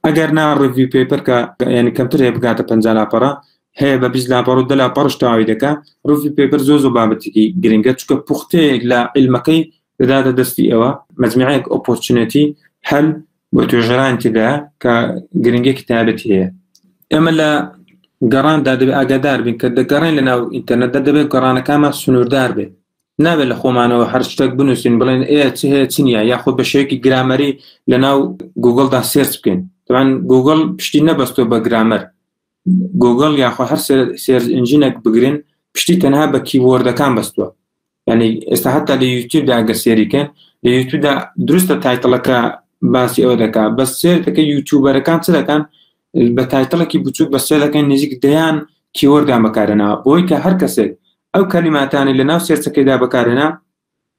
ئەگەر نا ڕوی پێپەرکە یعنی کەمتر هەیە بگاتە پ لاپەڕە هەیە بە بیست لاپەڕ و دەلا پڕشتاوی دەکە ڕوی پێپەر زۆ زۆ بابەتێکی گرنگە چکە پوختەیەک لە علمەکەی دەداتە دەستی ئەوە مەجمعەیەک ئۆپۆرچونەتی هەل بۆ توێژەران تێدا کە گرنگێکی تابەتی هەیە ئێمە لە گەڕاندا دەبێت ئاگادار بین کە دەگەڕێن لە ناو ئینتەرنەتدا دەبێت گەڕانەکانمان سنووردار بێت نابێت لە خۆمانەوە هەر شتێک بنووسین بڵێن ئێ چ هەیە چنیە یاخۆ بە شێوەیەکی گرامەری لە ناو گوگلدا سێرچ بکەین تەوان گوگل پشتی نەبەستۆ بە گرامەر گۆگڵ یاخوا هەر سێرز ئنجینەک بگرن پشتی تەنها بە کیبۆردەکان بەستووە ینی ئێستا هەتا لە یوتیوبدا گە سێریکەن لە یوتیوبدا دروستە تایتڵەکە باسی ئەوە دەکات بە سێر دەکە یوتیوبەرەکان چ دەکەن بە تایتڵێکی بچووک بە سێ دەکەن نزیک دەیان کیوەردان بەکارێنەوە بۆی کە هەر کەسێک ئەو کەلیماتانی لە ناو سێرچەکەیدا بەکارێنە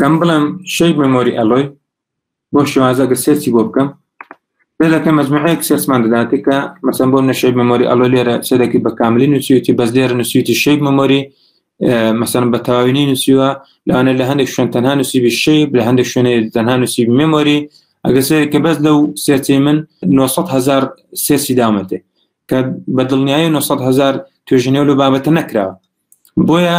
کەم بڵێم شەی مەمۆری ئەلۆی بۆ شێوازە گە سێرچی بۆ بکەم لەکە مەجموعەیەک سێرسمان دەداتێ کە مەسم بۆ نەشەی مەمۆری ئەلۆ لێرە سێدەکی بە کاملی نووسیوتی بەس لێرە نووسیوتی شەی مەمۆری مەسەن بە تەواوینی نووسیوە لەوانە لە هەندێک شوێن تەنها نووسیبی شەی لە هەندێک شوێنێ تەنها نووسی مەمۆری ئەگە سێ کە بەس لەو سێرچی من 900 هزار سێرسی دامەتێ کە بە دڵنیایی 900 هزار توێژنەوە لە بابەتە نەکراوە بۆیە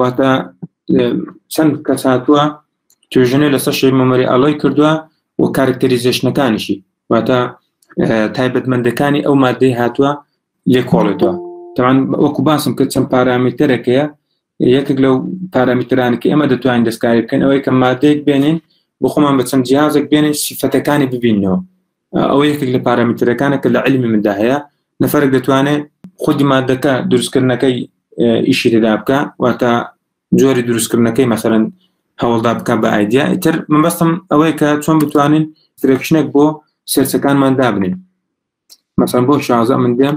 واتە چەند کەس هاتووە توێژنە لەسەر شەی مەمەری ئەڵۆی کردووە و کارکتەریزێشنەکانیشی واتە تایبەتمەندەکانی ئەو مادەی هاتووە لێ کۆڵێتەوە تاوان وەکو باسم کرد چەند پارامیتەرەکەیە یەکێک لەو پارامیترانکە ئێمە دەتوانین دەستکاری بکەن ئەوەی کە مادەیەک بێنین بۆ خۆمان بە چەند جیازێک بێنین سیفەتەکانی ببینەوە ئەوە یەکێک لە پارامترەکانە کە لە علمی مندا هەیە نەفرەك دەتوانێت خودی مادەکە دروستکردنەکەی ئیشی تێدا بکە واتە جۆری دروستکردنەکەی مەسەرەن هەوڵدا بکە بە ئایدیا ئیتر من بەستم ئەوەیە کە چۆن بتوانین فرەکشنێک بۆ سێرچەکانمان دابنین مەسەن بۆ شازە من دێم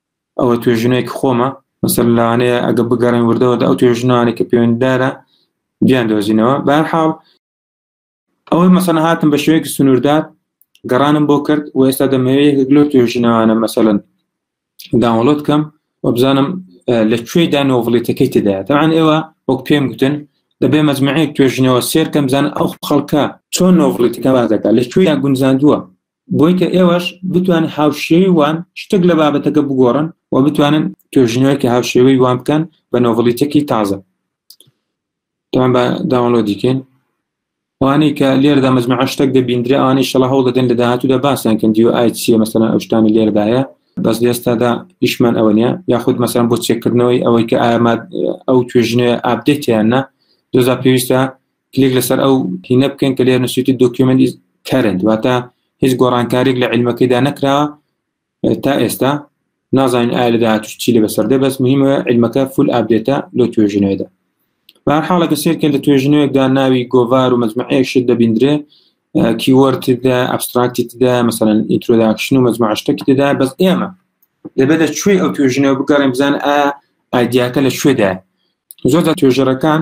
ئەوە توێژینەوەیەکی خۆمە مەسەر لەوانەیە ئەگە بگەڕین وردەوە ئەو توێژنەوانێک کە پەیوەنددارە بیان دۆزینەوە بەرحاڵ ئەوەی مەسەن هاتم بە شوەیەکی سنووردار گەڕانم بۆ کرد و ئێستا دەمەوێت گلۆ توێژینەوانە مەسەن داوڵۆت کەم وبزانم لە کوێی دانۆڤڵێتەکەی تدا تاان ئێوە وەک پێم گوتن دەبێ مەزمعەیەک توێژینەوە سێرکەم بزان ئەو خەڵکە چۆن نۆڤڵێتەکە باز دەکات لە کوێیان گونجاندووە بۆی کە ئێوەش بتوانن هاوشێوی وان شتێک لە بابەتەکە بگۆڕن و بتوانن توێژینەوەیکی هاوشێوەی وان بکەن بە نۆڤڵیتێکی تازە تان بە داوەڵۆدیکەین وانەی کە لێردا مەزمە شتێک دەبیندرێ ئەوانەی شەڵە هەوڵ دەدەن لە داهاتوودا باسیان کەن دیو ئای چیە مەسەن ئەوشتانی لێردایە بەس لێستادا ئیشمان ئەوە نیە یاخود مەسەن بۆ چێکردنەوەی ئەوەی کە ئاماد ئەو توێژنێ ئابدێتیاننا دۆزا پێویستە کلیک لەسەر ئەو تینە بکەین کە لێر نووسیتی دۆکیومنت کەرنت واتە هیچ گۆڕانکاریک لە علمەکەیدا نەکرا تا ئێستا نازانین ئایا لە داهاتوش چی لە بەسەردە بەس مهمە علمەکە فول ئابدێتە لۆ توێژنەوەدا بە حاڵەکە سێرکە لە توێژنەوەکدا ناوی گۆڤار و مەزمعەیەشت دەبیندرێ کیوەرتدا ئەبستراکتدا مەسەن ئینترۆداکشن و مەزمعشتەکی دەدا بەس ئێمە دەبێت لە کوێ ئەو توێژنەوە بگەڕێن بزان ئا ئایدیاکە لە کوێدا زۆر توێژەرەکان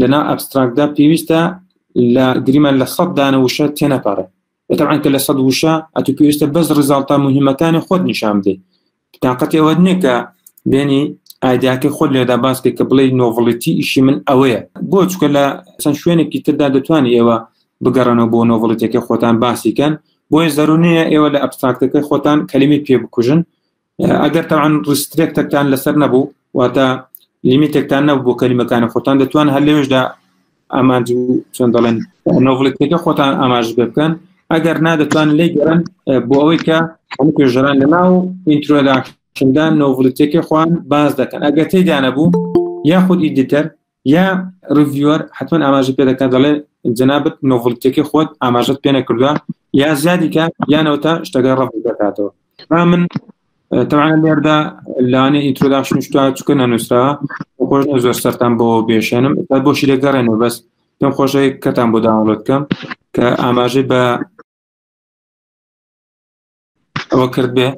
لەناو ئەبستراکتدا پێویستە لە گریمان لە سەد دانە وشە تێنەپەڕێ بەتەعاان کە لە سەد وشە ئەتو پێویستە بەس ڕزاڵتا مهمەکانی خۆت نیشان بدەی تااقەتی ئەوە نییە کە بێنی ئایدیاکەی خۆ لێدا باسکە کە بڵێ نۆڤڵیتی ئیشی من ئەوەیە بۆ چکە لە چەند شوێنێکی تردا دەتوانانی ئێوە بگەڕنەوە بۆ نۆڤڵیتەکە خۆتان باسیکەن بۆیە زەرونەیە ئێوە لە ئەبستراکتەکە خۆتان کەلیمی پێ بکوژن ئەگەر تاوان ڕسترێکتەکتان لەسەر نەبوو واتە لیمیتێکتان نەبوو بۆ کەلیمەکانی خۆتان دەتوان هەر لەوێشدا ئامانج و چۆن دەڵێن نۆڤڵێکەکە خۆتان ئاماژ بکەن ئەگەر نادەتوان لی گەرن بۆ ئەوەی کە هەموو پێژران لە ناو ئینترۆدا شدان نۆڤڵێتێکی خوان باز دەکەن ئەگەر تێدا نەبوو یاخود ئیدیتەر یا ڕڤیوەر حتمما ئاماژە پێ دەکات دەڵێ جەنابەت نۆڤڵتیەکەی خۆت ئاماژەت پێ نەکردووە یا زیادیکە یانەوە تا شتەکە ڕەف دەکاتەوە با من تەوانە لێردا لانێ ئیترۆدا شتوە چکە نەنووسرا خۆش زۆر سەران بۆ بێشێنم تا بۆ شیرە گەڕێنەوە بەس پێم خۆشەی کەتان بۆ داوڵەت کەم کە ئاماژەی بە ئەوە کرد بێ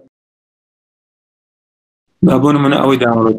با بۆ منە ئەوەی داوڵەت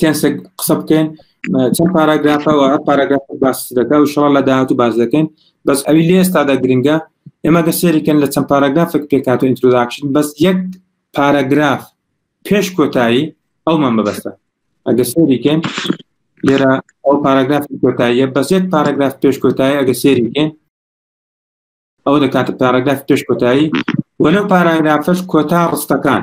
کەسێک قسە بکەین چەند پاراگرافەوە هەر پاراگراف باس دەکە و شڵ لە داهات و باز دەکەین بەس ئەوی لێ ئێستادا گرنگە ئێمە گە سێریکەن لە چەند پاراگرافێک پێکات و ئینتروداکشن بەس یەک پاراگراف پێش کۆتایی ئەومان بەبەستە ئەگە سێریکەن لێرە ئەو پاراگراف کۆتاییە بەس یەک پاراگراف پێش کۆتایی ئەگە سێریکەن ئەو دەکاتە پاراگراف پێش کۆتایی وەلو پاراگرافش کۆتا ڕستەکان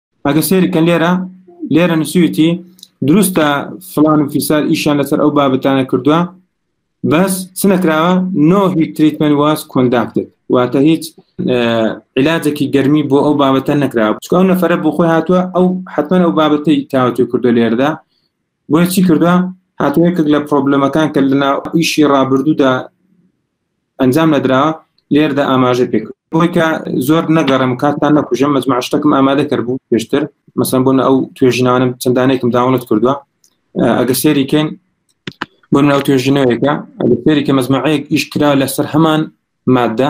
ئەگە سێرکەن لێرە لێرە نسویتی دروستە فلان و فیسار ئیشان لەسەر ئەو بابەتانە کردووە بەس سنەکراوە نۆ هیچ تریتمن واز کۆنداکتێت واتە هیچ علاجێکی گەرمی بۆ ئەو بابەتە نەکراوە چکە ئەو نەفرە بۆ خۆی هاتووە ئەو حتمما ئەو بابەتی تاوتوی کردو لێردا بۆیە چی کردوە هاتووە یەکێک لە پرۆبلەمەکان کە لەنا ئیشی ڕابردوودا ئەنجام نەدرا لێردا ئاماژە پێک بۆی کە زۆر نەگەڕم کاتان نەکوژم مەجمع شتەکەم ئامادە کرد بوو پێشتر مەسەن بۆن ئەو توێژنانم چەندانێکم داونت کردووە ئەگە سێریکەین بۆ ناو توێژینەوەیەکە ئەگە سێریکە مەزمعەیەک ئیشکرا لەسەر هەمان مادە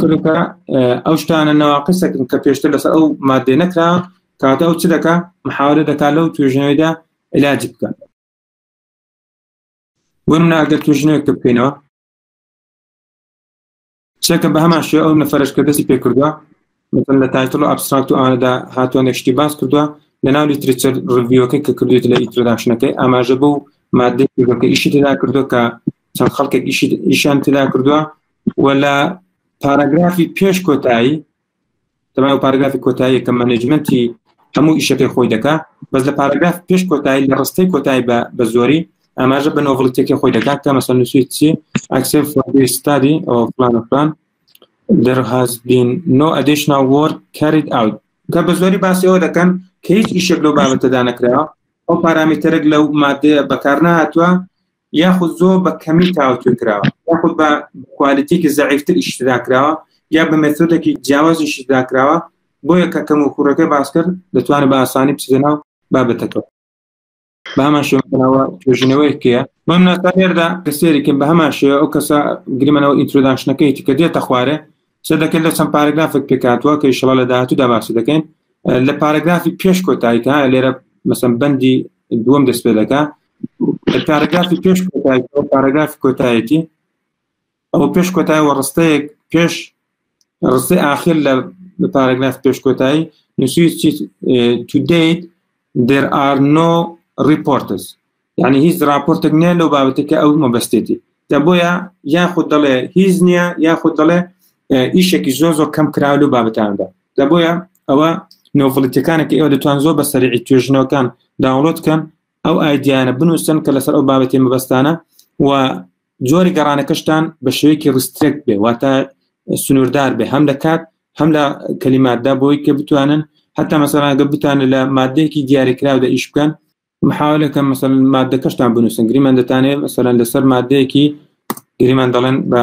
کردەکە ئەو شتانە ناواقیسەکن کە پێشتر لەسەر ئەو مادێ نەکرا کاتە ئەو چ دەکە محاورە دەکات لەو توێژنەوەیدا علاجی بکە وەم ناگە توێژنەوە کە بکەینەوە چێکە بە هەمان شێ ئەو نەفرش کە دەستی پێ کردووە مثل لە تایتل و ئەبستراکت و ئاەدا هاتووە شتی باس کردووە لە ناو لیتریچەر ڕڤیوەکە کە کردێت لە ئیترداشنەکەی ئاماژە بۆ مادەکە ئیشی تێدا کردو کە چەند خەڵکێک ئیشیان تێدا کردووە و لە پاراگرافی پێش کۆتایی تەما و پاراگرافی کۆتایی کە مەنجمنتی هەموو ئیشەکەی خۆی دەکا بەس لە پاراگراف پێش کۆتایی لە ڕستەی کۆتایی بە بە زۆری ئاماژە بە نۆڤڵتێکی خۆی دەکات کە مەسەن نووسی چی ئەکسف ستادی ئەو فلان فلان در هاز بین نۆ ئەدیشنا وۆرد کاریت ئاوت کە بە زۆری باسی ئەوە دەکەن کە هیچ ئیشێک لەو بابەتەدا نەکراوە ئەو پارامیتەرێک لەو مادەیە بەکار نهاتوە یاخود زۆر بە کەمی تاوتوێ کراوە یاخود بە کوالیتێکی زەعیفتر ئیشتدا کراوە یا بە مێتۆدێکی جیاوازی ئیشتدا کراوە بۆیە کە کەم و کوڕەکە باسکرد دەتوانێت بە ئاسانی بچێت ناو بابەتەکە بامان شێوەکەناوە توێژینەوەیەکە بەم ناتانێردا کەسێریکن بە هەمان شێوە ئەو کەسە گرمەنەوە ئینترۆداشنەکەیتی کە دێتە خوارێ سە دەکەن لە چەند پارەگرافێک پێکاتوە کە شڵە لە داهاتوو داباسی دەکەین لە پارەگرافی پێش کۆتاییکە لێرە مەسم بەندی دووەم دەست پێ دەکە پارەگرافی پێش پارەگرافی کۆتایەتی ئەو پێش کۆتای وە ڕستەیەک پێش ڕستی ئاخر لە پارەگراف پێش کۆتایی نووسی تو دیت دێر ئار نۆ ڕیپۆرتس یعنی هیچ راپۆرتێک نیە لەو بابەتەکە ئەو مەبەستێتی دە بۆیە یاخود دەڵێ هیچ نییە یاخود دەڵێ ئیشێکی زۆ زۆ کەم کراو لە بابەتاندا دە بۆیە ئەوە نۆڤڵیتەکانێکی ئەوە دەتوان زۆر بە سەرعی توێژنەوەکان داوڵۆت کەن ئەو ئایدیانە بنووسن کە لەسەر ئەو بابەتی مەبەستانە و جۆری گەڕانەکەشتان بە شوێکی ڕسترێک بێ واتە سنووردار بێ هەم لە کات هەم لە کەلیماتدا بۆی کە بتوانن هەتا مەسەلاگە بتانە لە مادەیەکی دیاریکراودا ئیش بکەن محاولەکە مەسەل مادەکەشتان بنووسن گریمان دەتانێت مەسەرەن لەسەر مادەیەکی گریمان دەڵێن بە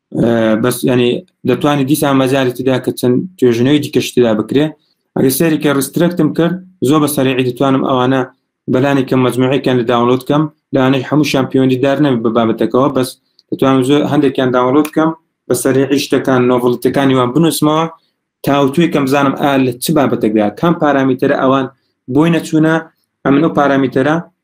بەس ینی دەتوانانی دیسان مەزاری تدا کە چەند توێژنەوەی دیکەشتدا بکرێ ئەگە سەری کە ڕسترەکتم کرد زۆر بە سەرعی دەتوانم ئەوانە بەلانی کە مجموعەکان لە داونلود کەم لەوانەی هەموو شامپیۆنی دار نەم بە بابەتەکەەوە بەس دەتوانم زۆر هەندێکیان داونلود کەم بە سەرعی شتەکان نۆڤڵتەکانی وان بنووسمەوە تاوتوی کەم بزانم ئا لە چ بابەتەکدا کام پارامیتەرە ئەوان بۆی نەچوونە ئەمن و پارامیتەرە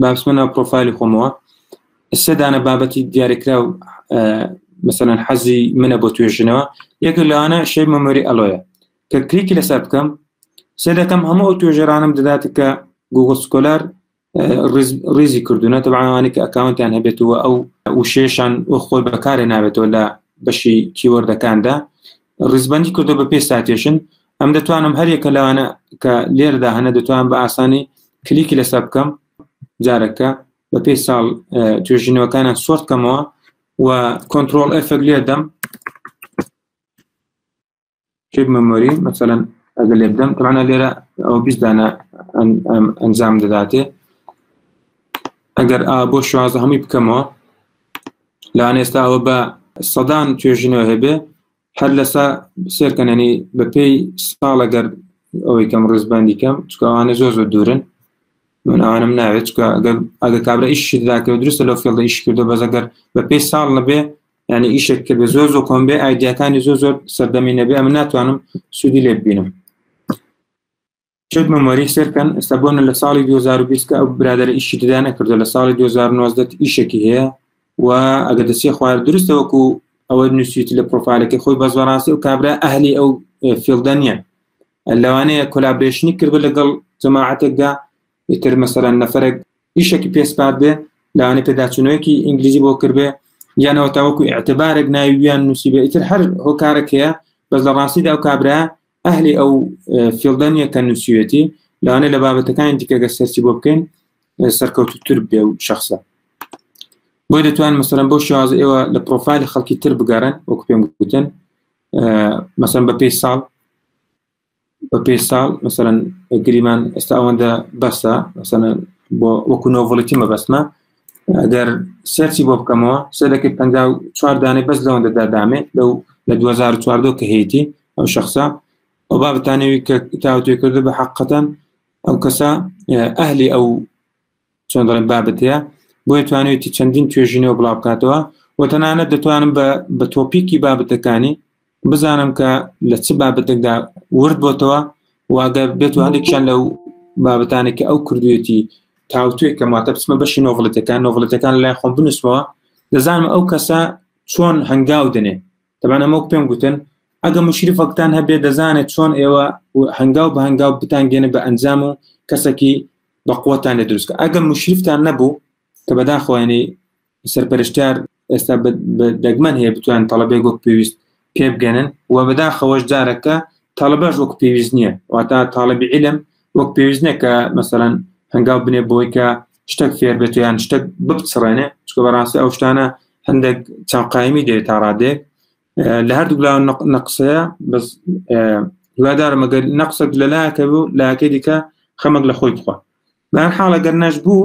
با بچمە ناو پرۆفایلی خۆمەوە سێ دانە بابەتی دیارکراو مثلەن حەزی منە بۆ توێژنەوە یەکە لەوانە شەی مەمۆری ئەلۆیە کە کریکی لەسەر بکەم سێ دەکەم هەموو ئەو توێژەرانم دەدات کە گوگل سکۆلار ڕیزی کردوونە تەبانەوانی کە ئەکاونتیان هەبێتەوە ئەو وشێشان خۆی بەکارێ نابێتەوە لە بەشی کیوەردەکاندا ڕیزبەندی کردو بە پێ ساتێشن ئەم دەتوانم هەرێکە لەوانە کە لێردا هەنە دەتوان بە ئاسانی کلیکی لەسەر بکەم جارەکە بە پێی ساڵ توێژینەوەکانە سۆرت کەمەوە و کۆنتترۆل ئەفەک لێ دەم شێک مەمۆری مەسەەن ئەگە لێ بدەم تەمانە لێرە ئەو بیستدانە ئەنجام دەداتێ ئەگەر بۆ شوازە هەمووی بکەمەوە لان ئێستا ئەوە بە سەدان توێژینەوە هەبێ هەر لەسا سێرکەنەنی بەپی ساڵە گەر ئەوەی کەم ڕزبندی کەم چکوانە زۆ زۆ دوورن من ئەوانم ناوێت ئەگە کابرا ئیشی داکەوە درستە لەو فێڵدە ئیش کردو بەزەگەر بە پێی ساڵ نەبێ ینی ئیشێک کە بێ زۆر زۆر کۆم بێ ئایدیاکانی زۆر زۆر سەردەمی نەبێ ئەم ناتوانم سوودی لێ ببینم شێت مەمەری سەرکەن ئێستا بۆنە لە ساڵی 2020 کە ئەو برادەر ئیشی تدا نەکردو لە ساڵی 2019 ئیشێکی هەیە و ئەگە دەسێ خوار درستە وەکو ئەوە نووسیت لە پرۆفالەکە خۆی بەس بەڕاستی و کابرا ئەهلی ئەو فیلدە نییە لەوانەیە کۆلابرێشنی کرد لەگەڵ جەماعاتێکدا ئیتر مەسەرە نەفرەك ئیشێکی پێسپات بێ لەوانەیە پێداچوونەوەکی ئینگلیزی بۆ کردێ یانەوە تاوەکو اعتبارێک ناویان نووسیبێ ئیتر هەر هۆکارەکەیە بەس لە ڕاستیدا ئەو کابرا ئەهلی ئەو فیلدە نییە کە نووسیوێتی لەوانێ لە بابەتەکانی دیکەگە سەرچی بۆ بکەین سەرکەوتتر بێ و شخصە بۆی دەتوان مەسەرم بۆ شێواز ئێوە لە پرۆفایلی خەڵکی تر بگەڕن وەک پێم گوتن مەسەن بە پێی ساڵ بە پێی ساڵ مەسەرەن گریمان ئێستا ئەوەندە بەسە مەسەن بۆ وەکو نۆڤڵێتی مەبەستمە ئەگەر سەرچی بۆ بکەمەوە سەرەکەی پ چوار دانێ بەس لەوەندەدا دامێ لەو لە 2014 کە هەیەی ئەو شخصە ئەو بابتانەوی کە تاوتێ کردو بە حقەتەن ئەو کەسە ئەهلی ئەو چۆن دەڵێن بابەت هەیە بۆیە توانێتی چەندین توێژینەوە بڵاو بکاتەوە و تەنانەت دەتوانم بە تۆپیکی بابەتەکانی بزانم کە لە چ بابەتێکدا ورد بۆتەوە واگە بێت و هەندێکیان لەو بابەتانی کە ئەو کردوێتی تاوتێک کە ماتە بچمە بەشی نۆڤڵەتەکان نۆڤڵەتەکان لای خۆم بنووسمەوە دەزانم ئەو کەسە چۆن هەنگاو دەنێ تەبان ئەمەک پێم گوتن ئەگە مشریفەکتان هەبێ دەزانێت چۆن ئێوە هەنگاو بە هەنگاو بتانگەێنە بە ئەنجام و کەسێکی بە قوتان لە دروستکە ئەگە مشریفتان نەبوو کە بەداخۆیانی سەرپەرشتار ئێستا دەگمەن هەیە بتوان تەڵەبێ گۆک پێویست پێبگەنن و بەداخەوەش جارەکە تەڵبەش وەک پێویست نییە واتا تاالبی علم وەک پێویست نیە کە مەسەەن هەنگاو بنێ بۆی کە شتێک فێر بێت یان شتێک بپچڕێنێ چکە بەڕاستی ئەو شتانە هەندێک چاقایمی دێت تا ڕادێک لە هەردوو لا نەقسەیە بەس هیوادارم ئەگەر نەقسەک لەلایەکە بوو لاکە دیکە خەمەک لە خۆی بخوا بەر حاڵەگەر نەش بوو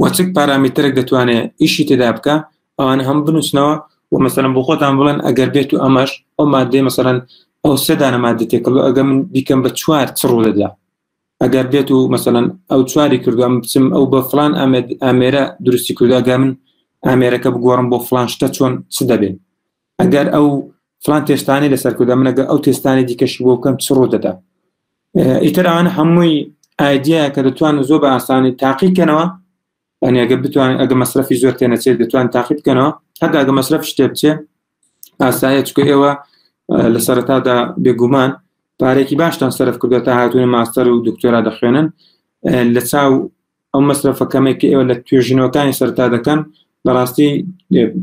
وە چ پارامیترێک دەتوانێت ئیشی تێدا بکە ئەوان هەم بنووسنەوە و مەسەرم بۆ خۆتان بڵێن ئەگەر بێت و ئەمەش ئەو مادەی مەسەرەن ئەو سێدانە مادە تێکەڵ ئەگە من بیکەم بە چوار چ ڕوو دەدا ئەگەر بێت و مەسەەن ئەو چواری کردوم بچم ئەو بە فلان ئامێرە درستی کردگە من ئامێرەکە بگۆڕم بۆ فلان شتە چۆن چ دەبێت ئەگەر ئەو فلان تێستانی لەسەر کردە منەگە ئەو تێستانی دیکەشی بۆ بکەم چ ڕوو دەدا ئیتران هەمووی ئایدیا کە دەتوان زۆر بە ئاسانی تاقی کەنەوە ئەنیگە بتوان ئەگە مەصرفی زۆر تێنەچێت دەتوان تاقی بکەنەوە هەتا ئەگە مەصرف شتێ بچێ ئاسایە چکە ئێوە لە سەرتادا بێگومان پارێکی باشتان سەرف کردو تا هاتوونە ماستەر و دکتۆرا دەخوێنن لە چاو ئەو مەسرەفە کەمەی کە ئێوە لە توێژینەوەکانی سەرتا دەکەن بەڕاستی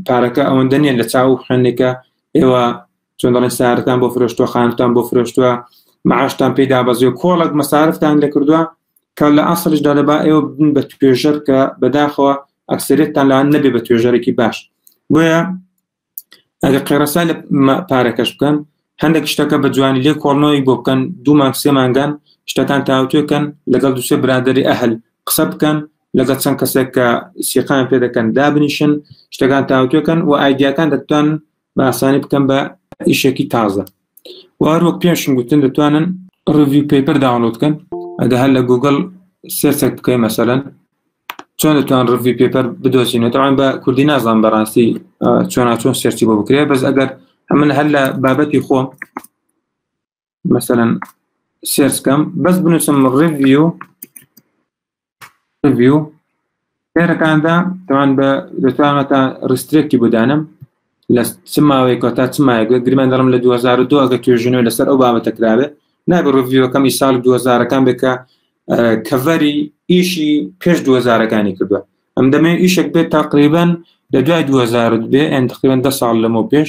پارەکە ئەوەندە نیە لە چاو خوێندێکە ئێوە چۆن دەڵێن سارتان بۆ فرۆشتوە خانتان بۆ فرۆشتوە معاشتان پێدا بەزێ و کۆڵک مەسارفتان لە کردووە کە لە ئاسڵشدا دەبا ئێوە بدن بە توێژەر کە بەداخەوە ئەکسرێتتان لا نەبێ بە توێژەرێکی باش بۆیە ئەگە قێڕسا لە پارەکەش بکەن هەندێک شتەکە بە جوانی لێ کۆڵنەوەی بۆ بکەن دوو مانگ سێ مانگان شتەکان تاوتێکەن لەگەڵ دوسێ برادری ئەهل قسە بکەن لەگە چەند کەسێک کە سیقان پێ دەکەن دابنیشن شتەکان تاوتێکەن و ئایدیاکان دەتوان بە ئاسانی بکەم بە ئیشێکی تازە وەک پێشم گوتن دەتوانن ڕوی پەیپەر داونلود کەن ئەگە هەر لە گوگل سێرسێک بکەین مەسەەن چۆن دەتوان ڕوی پێپەر بدۆچینەوەتەوان بە کوردی نازان بەڕاستی چۆنا چۆن سێرچی بۆ بکرێ بەس ئەگەر ئەمن هەر لە بابەتی خۆم مەسەەن سێرسکەم بەس بنووسم ڕوی ڤیو هێرەکاندا تاوان بە دەتوانەتە ڕسترێکی بدانم لە چ ماوەیەکە تا چ مایەگە گرمان دەڵم لە 2002 ئەگە توێژنەوە لەسەر ئەو بابەتە کراێت نابێ ڕڤیوەکەمی سال 2000ەکان بکە کەڤەری ئیشی پێش 2000ەکانی کردووە ئەم دەمێ ئیشێک بێت تاقریبن لە دوای 2000 بێ ئەن تقریبن ده ساڵ لەمە پێش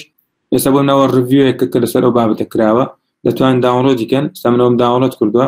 ئێستا بۆ ناوە ڕڤیوەیەکە کە لەسەر ئەو بابەتە کراوە دەتوان داونلۆدیکەن سەمنەوەم داونلۆد کردووە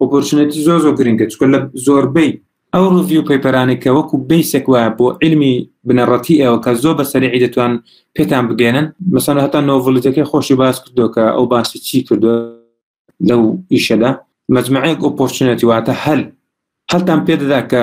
ئۆپۆرچنێتی زۆر زۆر گرنگە چکە لە زۆربەی ئەو ڕڤیو پەیپەرانێک کە وەکو بیسێک وایە بۆ علمی بنەڕەتی ئەوە کە زۆر بەسەرعی دەتوان پێتان بگەێنن مەسەن هەتا نۆڤلیتەکەی خۆشی باس کردو کە ئەو باسی چی کردو لەو ئیشەدا مجموعەیەک ئۆپۆرچنێتی واتە هەل هەلتان پێدەدا کە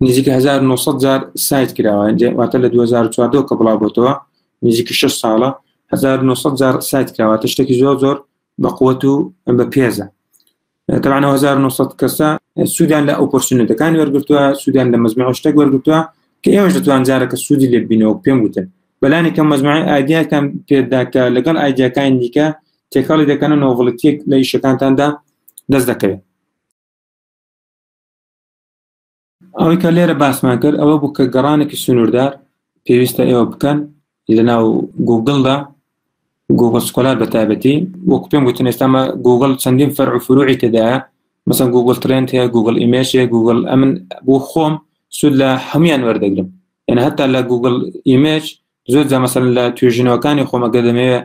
نزیکە 1900 جار سایت کراوە واتە لە 2014 کە بڵاو بۆتەوە نزیکە 6 ساڵە 1900 جار سایت کراوە تشتێکی زۆر زۆر بە قوت و بە پێزە طبعا 1900 کەسە سوودان لە ئۆپۆرسنەتەکان وەرگتووە سوودان لە مەزمەوە شتێک وەرگتووە کە ئێوەش دەتوان جارەکە سوودی لێ بینەوە پێم وتن بەلانی کە مەزمای ئایدیاکان پێداکە لەگەڵ ئایدیاکان دیکە تێکەڵی دەکەنە نۆڤڵتیک لە ئیشەکانتاندا دەست دەکەوێت ئەوەی کە لێرە باسمان کرد ئەوە بوو کە گەڕانێکی سنووردار پێویستە ئێوە بکەن لە ناو گوگلدا گوگل سکۆلار بە تابەتی وەک پێم گوتن ئێستامە گوگل چەندین فەر و فروعی تێدایە مەسەن گوگل ترند هەیە گوگل ئیمێش هەیە گوگل ئەمن بۆ خۆم سود لە هەمویان وەردەگرم یعنی هەتا لە گوگل ئیمێج زۆر جامەسەر لە توێژینەوەکانی خۆمەگە دەمەوێت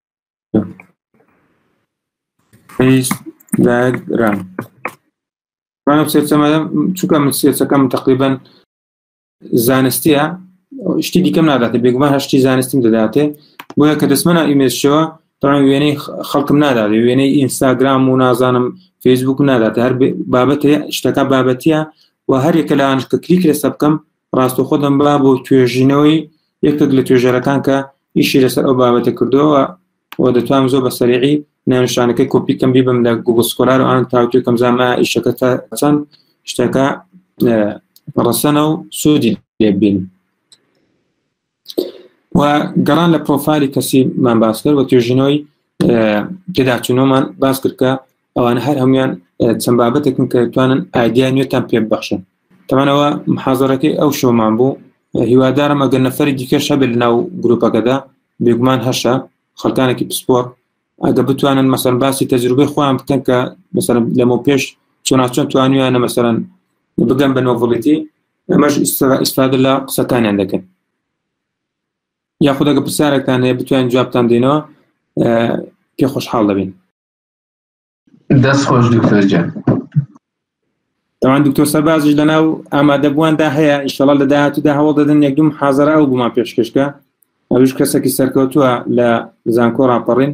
لایەک درام مانم سێچەمە چونکە من سێچەکەم تقریبن زانستیە شتی دیکەم ناداتێ بێگومان هەشتی زانستیم دەداتێ بۆیە کە دەستمەە ئیمێشەوە تاوان وێنەی خەڵکم نادات وێنەی ئینستاگرام و نازانم فەیسبوک نادات هەر بابەتێ شتەکە بابەتە و هەرێکە لەوانش کە کلیک لەسە بکەم ڕاستەوخۆ دەمبا بۆ توێژینەوەی یەکێک لە توێژەرەکان کە ئیشی لەسەر ئەو بابەتە کردەوە و دەتوانم زۆر بە سەریعی ناوشانەکەی کۆپی کەم بیبم لە گوگل سکۆلار و ئان تاوتێ کەم زانما ئیشەکە تا چەند شتەکە ڕەسەنە و سوودی لێبین و گەڕان لە پرۆفایلی کەسی من باس کرد و توێژینەوەی پێداچوونەوەمان باس کرد کە ئەوان هەر هەموان چەند بابەتێکن کە توانن ئایدیا نوێتان پێ ببخشن تەمانەوە محازەرەکەی ئەو شۆمان بوو هیوادارم ئەگەر نەفری دیکە شەبێت لە ناو گروپەکەدا بێگومان هەشە خەکانێکی پسپۆر ئەگە بتوانن مەسەر باسی تەجروبەی خۆیان بکەن کە مەسەر لەمە پێش چۆناچۆن توانیانە مەسەرەن بگەم بە نۆڤڵیتی ئەمەش ئیسفادە لە قسەکانیان دەکەن یاخودەگە پرسیارەکان هەیە بتوان جوابتان دێنەوە پێ خۆشحاڵ دەبین دەست خۆش دکتۆرجان تاوان دکتۆر سەربازش لەناو ئامادەبوواندا هەیە ئیشەڵ لە داهاتوودا هەوڵ دەدەن یەکدوم حازرە ئەو بوومان پێشکەشکە ئەوش کەسێکی سەرکەوتووە لە زانکۆ ڕاپەڕین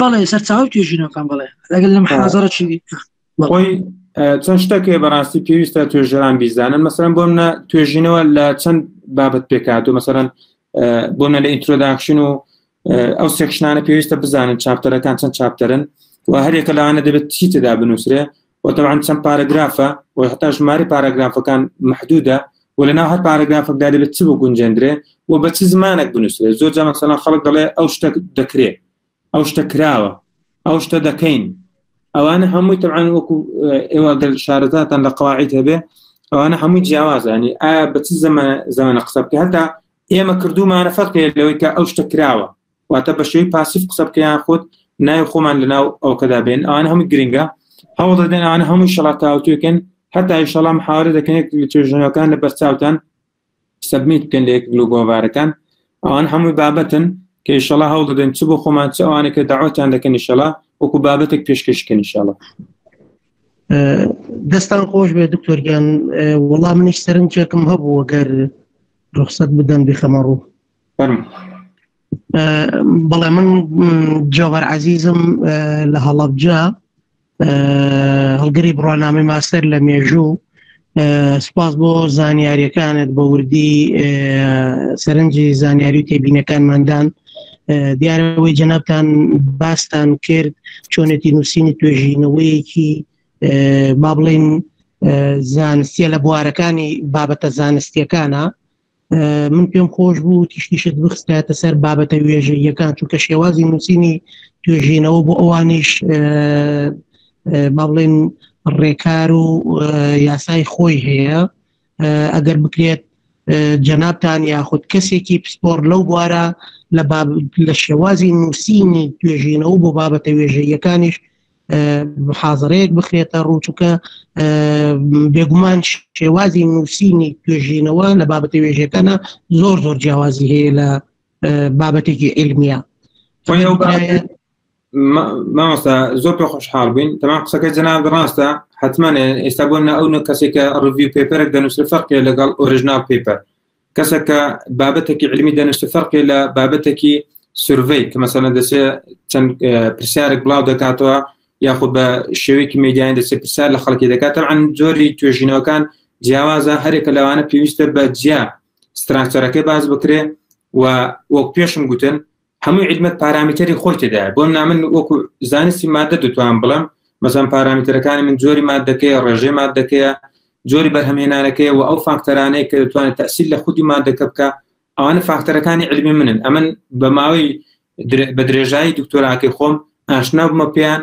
بەڵێ سەرچاو توێژینەکان بڵێ لەگەل لەم حازڕە چی بەڵی چەند شتەکێ بەڕاستی پێویستە توێژەران بیزانن مەسەرم بۆم نە توێژینەوە لە چەند بابەت پێکات و مەسەرەن بۆنە لە ئینترۆداکشن و ئەو سێکشنانە پێویستە بزانن چاپتەرەکان چەند چاپتەرن و هەرێکە لەوانە دەبێت چی تێدا بنووسرێ وەتەوان چەند پارەگرافە و هەتا ژماری پاراگرافەکان محدودە و لەناو هەر پارەگرافەکدا دەبێت چ بۆ گونجێندرێ و بە چ زمانێک بنووسێ زۆر جامەسەلا خەڵک دەڵێ ئەو شتە دەکرێ ئەو شتە کراوە ئەو شتە دەکەین ئەوانە هەمووی تەعاان وەکو ئێوە گەل شارەتان لە قواعیت هەبێ ئەوانە هەمووی جیاوازانی ئایا بە چ زمانە زمانە قسە بکە هەتا ئێمە کردومانە فەرقێ لەوەی کە ئەو شتە کراوە واتە بە شێوەی پاسیف قسە بکە یان خۆت ناوی خۆمان لەناو ئەوکەدا بێن ئەوان هەموو گرنگە هەوڵ دەدەن ئەوان هەموو شڵاتاوتوێکن هەتا ئیشەڵام حاوارە دەکەن توێژنەکان لە بەرچاوتان سەبمیت بکەن لە یەک لو گۆڤارەکان ئەوان هەموو بابەتن کە ئیشەڵا هەوڵ دەدەن چ بۆ خۆمان چ ئەوانەکە داواتیان دەکەن ئیشەڵا وەکو بابەتێک پێشکەشکەن ئیشەڵا دەستان خۆش بێ دکتۆرگیان وەڵام منیش سەرنجێکم هەبوو گەر ڕخصەت بدەن بخەمە ڕوو بەڵێ من جۆبەر عزیزم لە هەڵەبجە هەڵگری بڕۆنامەی ماستەر لە مێژوو سپاس بۆ زانیاریەکانت بە وردی سەرنجی زانیاری و تێبینەکانماندان دیارەوەی جەنابان باستان کرد چۆنێتی نووسینی توێژینەوەیەکی با بڵین زانستیە لە بوارەکانی بابەتە زانستیەکانە من پێم خۆش بوو تیشتیشت بخستایەتە سەر بابەتە وێژەیەکان چونکە شێوازی نووسینی توێژینەوە بۆ ئەوانیش با بڵێن ڕێکار و یاسای خۆی هەیە ئەگەر بکرێت جەنابان یاخود کەسێکی پسپۆر لەو بوارە لە لە شێوازی نووسینی توێژینەوە بۆ بابەتە وێژەیەکانیش محازڕەیەک بخرێتە ڕووچکە بێگومان شێوازی نووسینی توێژینەوە لە بابەتی وێژەکانە زۆر زۆر جیاوازی هەیە لە بابەتێکی علمیە مامۆستا زۆر پێ خۆشحاڵ بووین تەمان قسەکە جەناب ڕاستە حتممانێ ئێستا بۆ نە ئەو نە کەسێکە ڕڤی پێپەرێک دەنووسێ فەرقێ لەگەڵ ئۆریژنال پێپەر کەسە کە بابەتێکی علمی دەنیشتە فەرقی لە بابەتێکی سروەی کە مەسەنە دەسێ چەند پرسیارێک بڵاو دەکاتەوە یاخود بە شێوەیەکی میدیان دەسێ پرسیار لە خەڵکی دەکات ئەن جۆری توێژینەوەکان جیاوازە هەرێکە لەوانە پێویستە بە جیا ستراکتەرەکەی باز بکرێ و وەک پێشم گوتن هەمووی عیدمەت پارامیتەری خۆی تێدایە بۆم نامن وەکو زانستی مادە دەتوان بڵم مەزان پارامیتەرەکانی من جۆری مادەکەی ڕێژێ مادەکەیە جۆری بەرهەمێنانەکەی و ئەو فاکتەرانەیە کە دەتوانێت تەسیل لە خودی مادەکە بکە ئەوانە فاکتەرەکانی علمی منن ئەمن بە ماوەی بە درێژایی دکتۆراکەی خۆم ئاشنابمە پێیان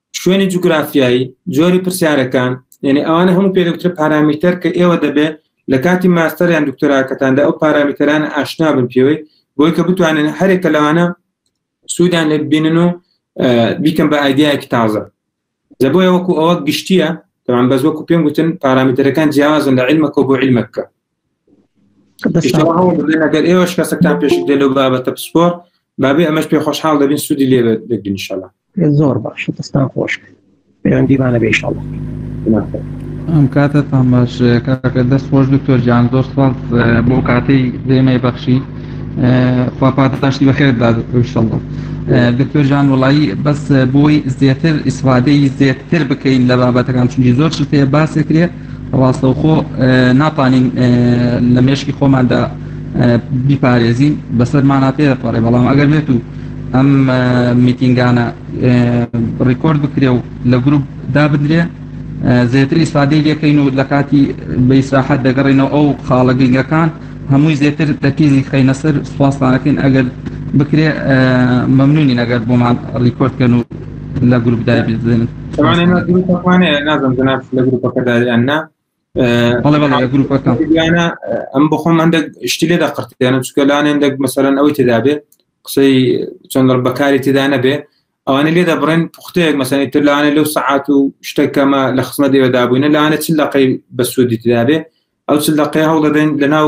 شوێنی جوگرافیایی جۆری پرسیارەکان یعنی ئەوانە هەموو پێدەوترە پارامیتەر کە ئێوە دەبێت لە کاتی ماستەریان دکتۆراکەتاندا ئەو پارامیتەران ئاشنا بن پێوەی بۆی کە بتوانن هەرێکە لەوانە سوودان لێ بینن و بیکەم بە ئایدیایەکی تازە لە بۆیە وەکو ئەوە گشتیە تەوان بەس وەکو پێم گوتن پارامیتەرەکان جیاوازن لە علمەکە بۆ علمەکە گەر ئێوەش کەسەکان پێش دێ لەو بابەتە پسپۆر بابێ ئەمەش پێ خۆشحاڵ دەبین سوودی لێ دەگرنیشەڵە زۆر باش دەستان خۆش پەیوەندیمانە بێشەڵە ئەم کاتە تام باش کاکە دەست خۆش دکتۆر جان زۆر سڵ بۆ کاتەی دێمەی بەخشی خواپاتاشتی بەخێردا دکتۆشەڵە دکتۆر جان وڵایی بەس بۆی زیاتر ئیسفادەی زیاتر بکەین لە بابەتەکان چونی زۆر شتێ باسێکرێ ڕاستەوخۆ ناتوانین لە مێشکی خۆماندا بیپارێزین بەسەرمانە پێپەڕێ بەڵام ئەگەر بێت و ئەم میتینگانە ڕیکۆرد بکرێ و لە گروپ دابدرێ زێتر ئیسفادەی لەکەین و لە کاتی بەیسراحەت دەگەڕێنەوە ئەو خاڵە گرنگەکان هەمووی زێتر تەکیزی خەینە سەر سوپاسانەکەین ئەگەر بکرێ مەمنونی نەگەر بۆمان ڕیکۆردکەن و لە گروپدا بزنن گروپەکانێ نازم جناب لە گروپەکەدا یان نا بەڵێ بەڵێ لە گروپەکان یانە ئەم بخۆم هەندە شتی لێدا قرتیانە چکە لاێن دەک مەسەرەن ئەوەی تێدابێ قسەی چەند بەکاری تێدا نەبێ ئەوانە لێدا بڕێن پوختەیەک مەسەنی تر لاانێ لەو سعات و شتەکەمە لە خسمە دێوەدابووینە لاانە چ لەقەی بەسوودی تدابێ ئەو چ لەقەی هەوڵدەدەین لە ناو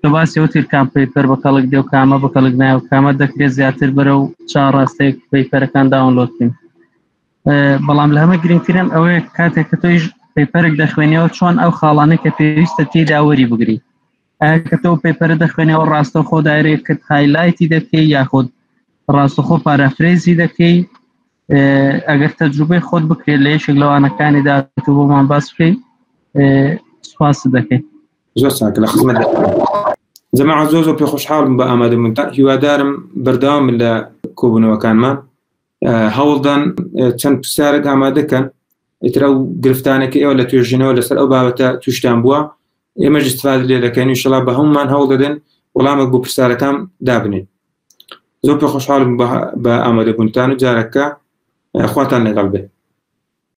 کە باسی ئەو تیر کام پەیپەر بە کەڵک دێ و کامە بە کەڵک نایە و کامە دەکرێت زیاتر بەرە و چا ڕاستێک پەیپەرەکان داونلۆد بکەین بەڵام لە هەمە گرنگترم ئەوەیە کاتێک کە تۆیش پەیپەرێک دەخوێنەوە چۆن ئەو خاڵانە کە پێویستە تێدا وەری بگری کە تۆ پەیپەرە دەخوێنەوە ڕاستە خۆ دایرێک کرد هایلایتی دەکەی یاخود ڕاستەخۆ پارافرێزی دەکەی ئەگەر تەجروبەی خۆت بکرێت لە یەکێک لەوانەکانیدا تۆ بۆمان باس بکەیت سپاس دەکەیت زۆر چاکە لە خزمەت جەماعە زۆر زۆر پێ خۆشحاڵم بە ئامادەمونتان هیوادارم بەردەوام لە کۆبوونەوەکانمان هەوڵدان چەند پرسیارێک ئامادەکەن ئیترا و گرفتانەکە ئێوە لە توێژینەوە لەسەر ئەو بابەتە توشتان بووە ئێمە جستفاد لێ دەکەین شڵا بە هەمومان هەوڵ دەدەن وەڵامێک بۆ پرسیارەکان دابنێن زۆر پێ خۆشحاڵم بە ئامادەبوونتان و جارەکە خواتان لەگەڵ بێت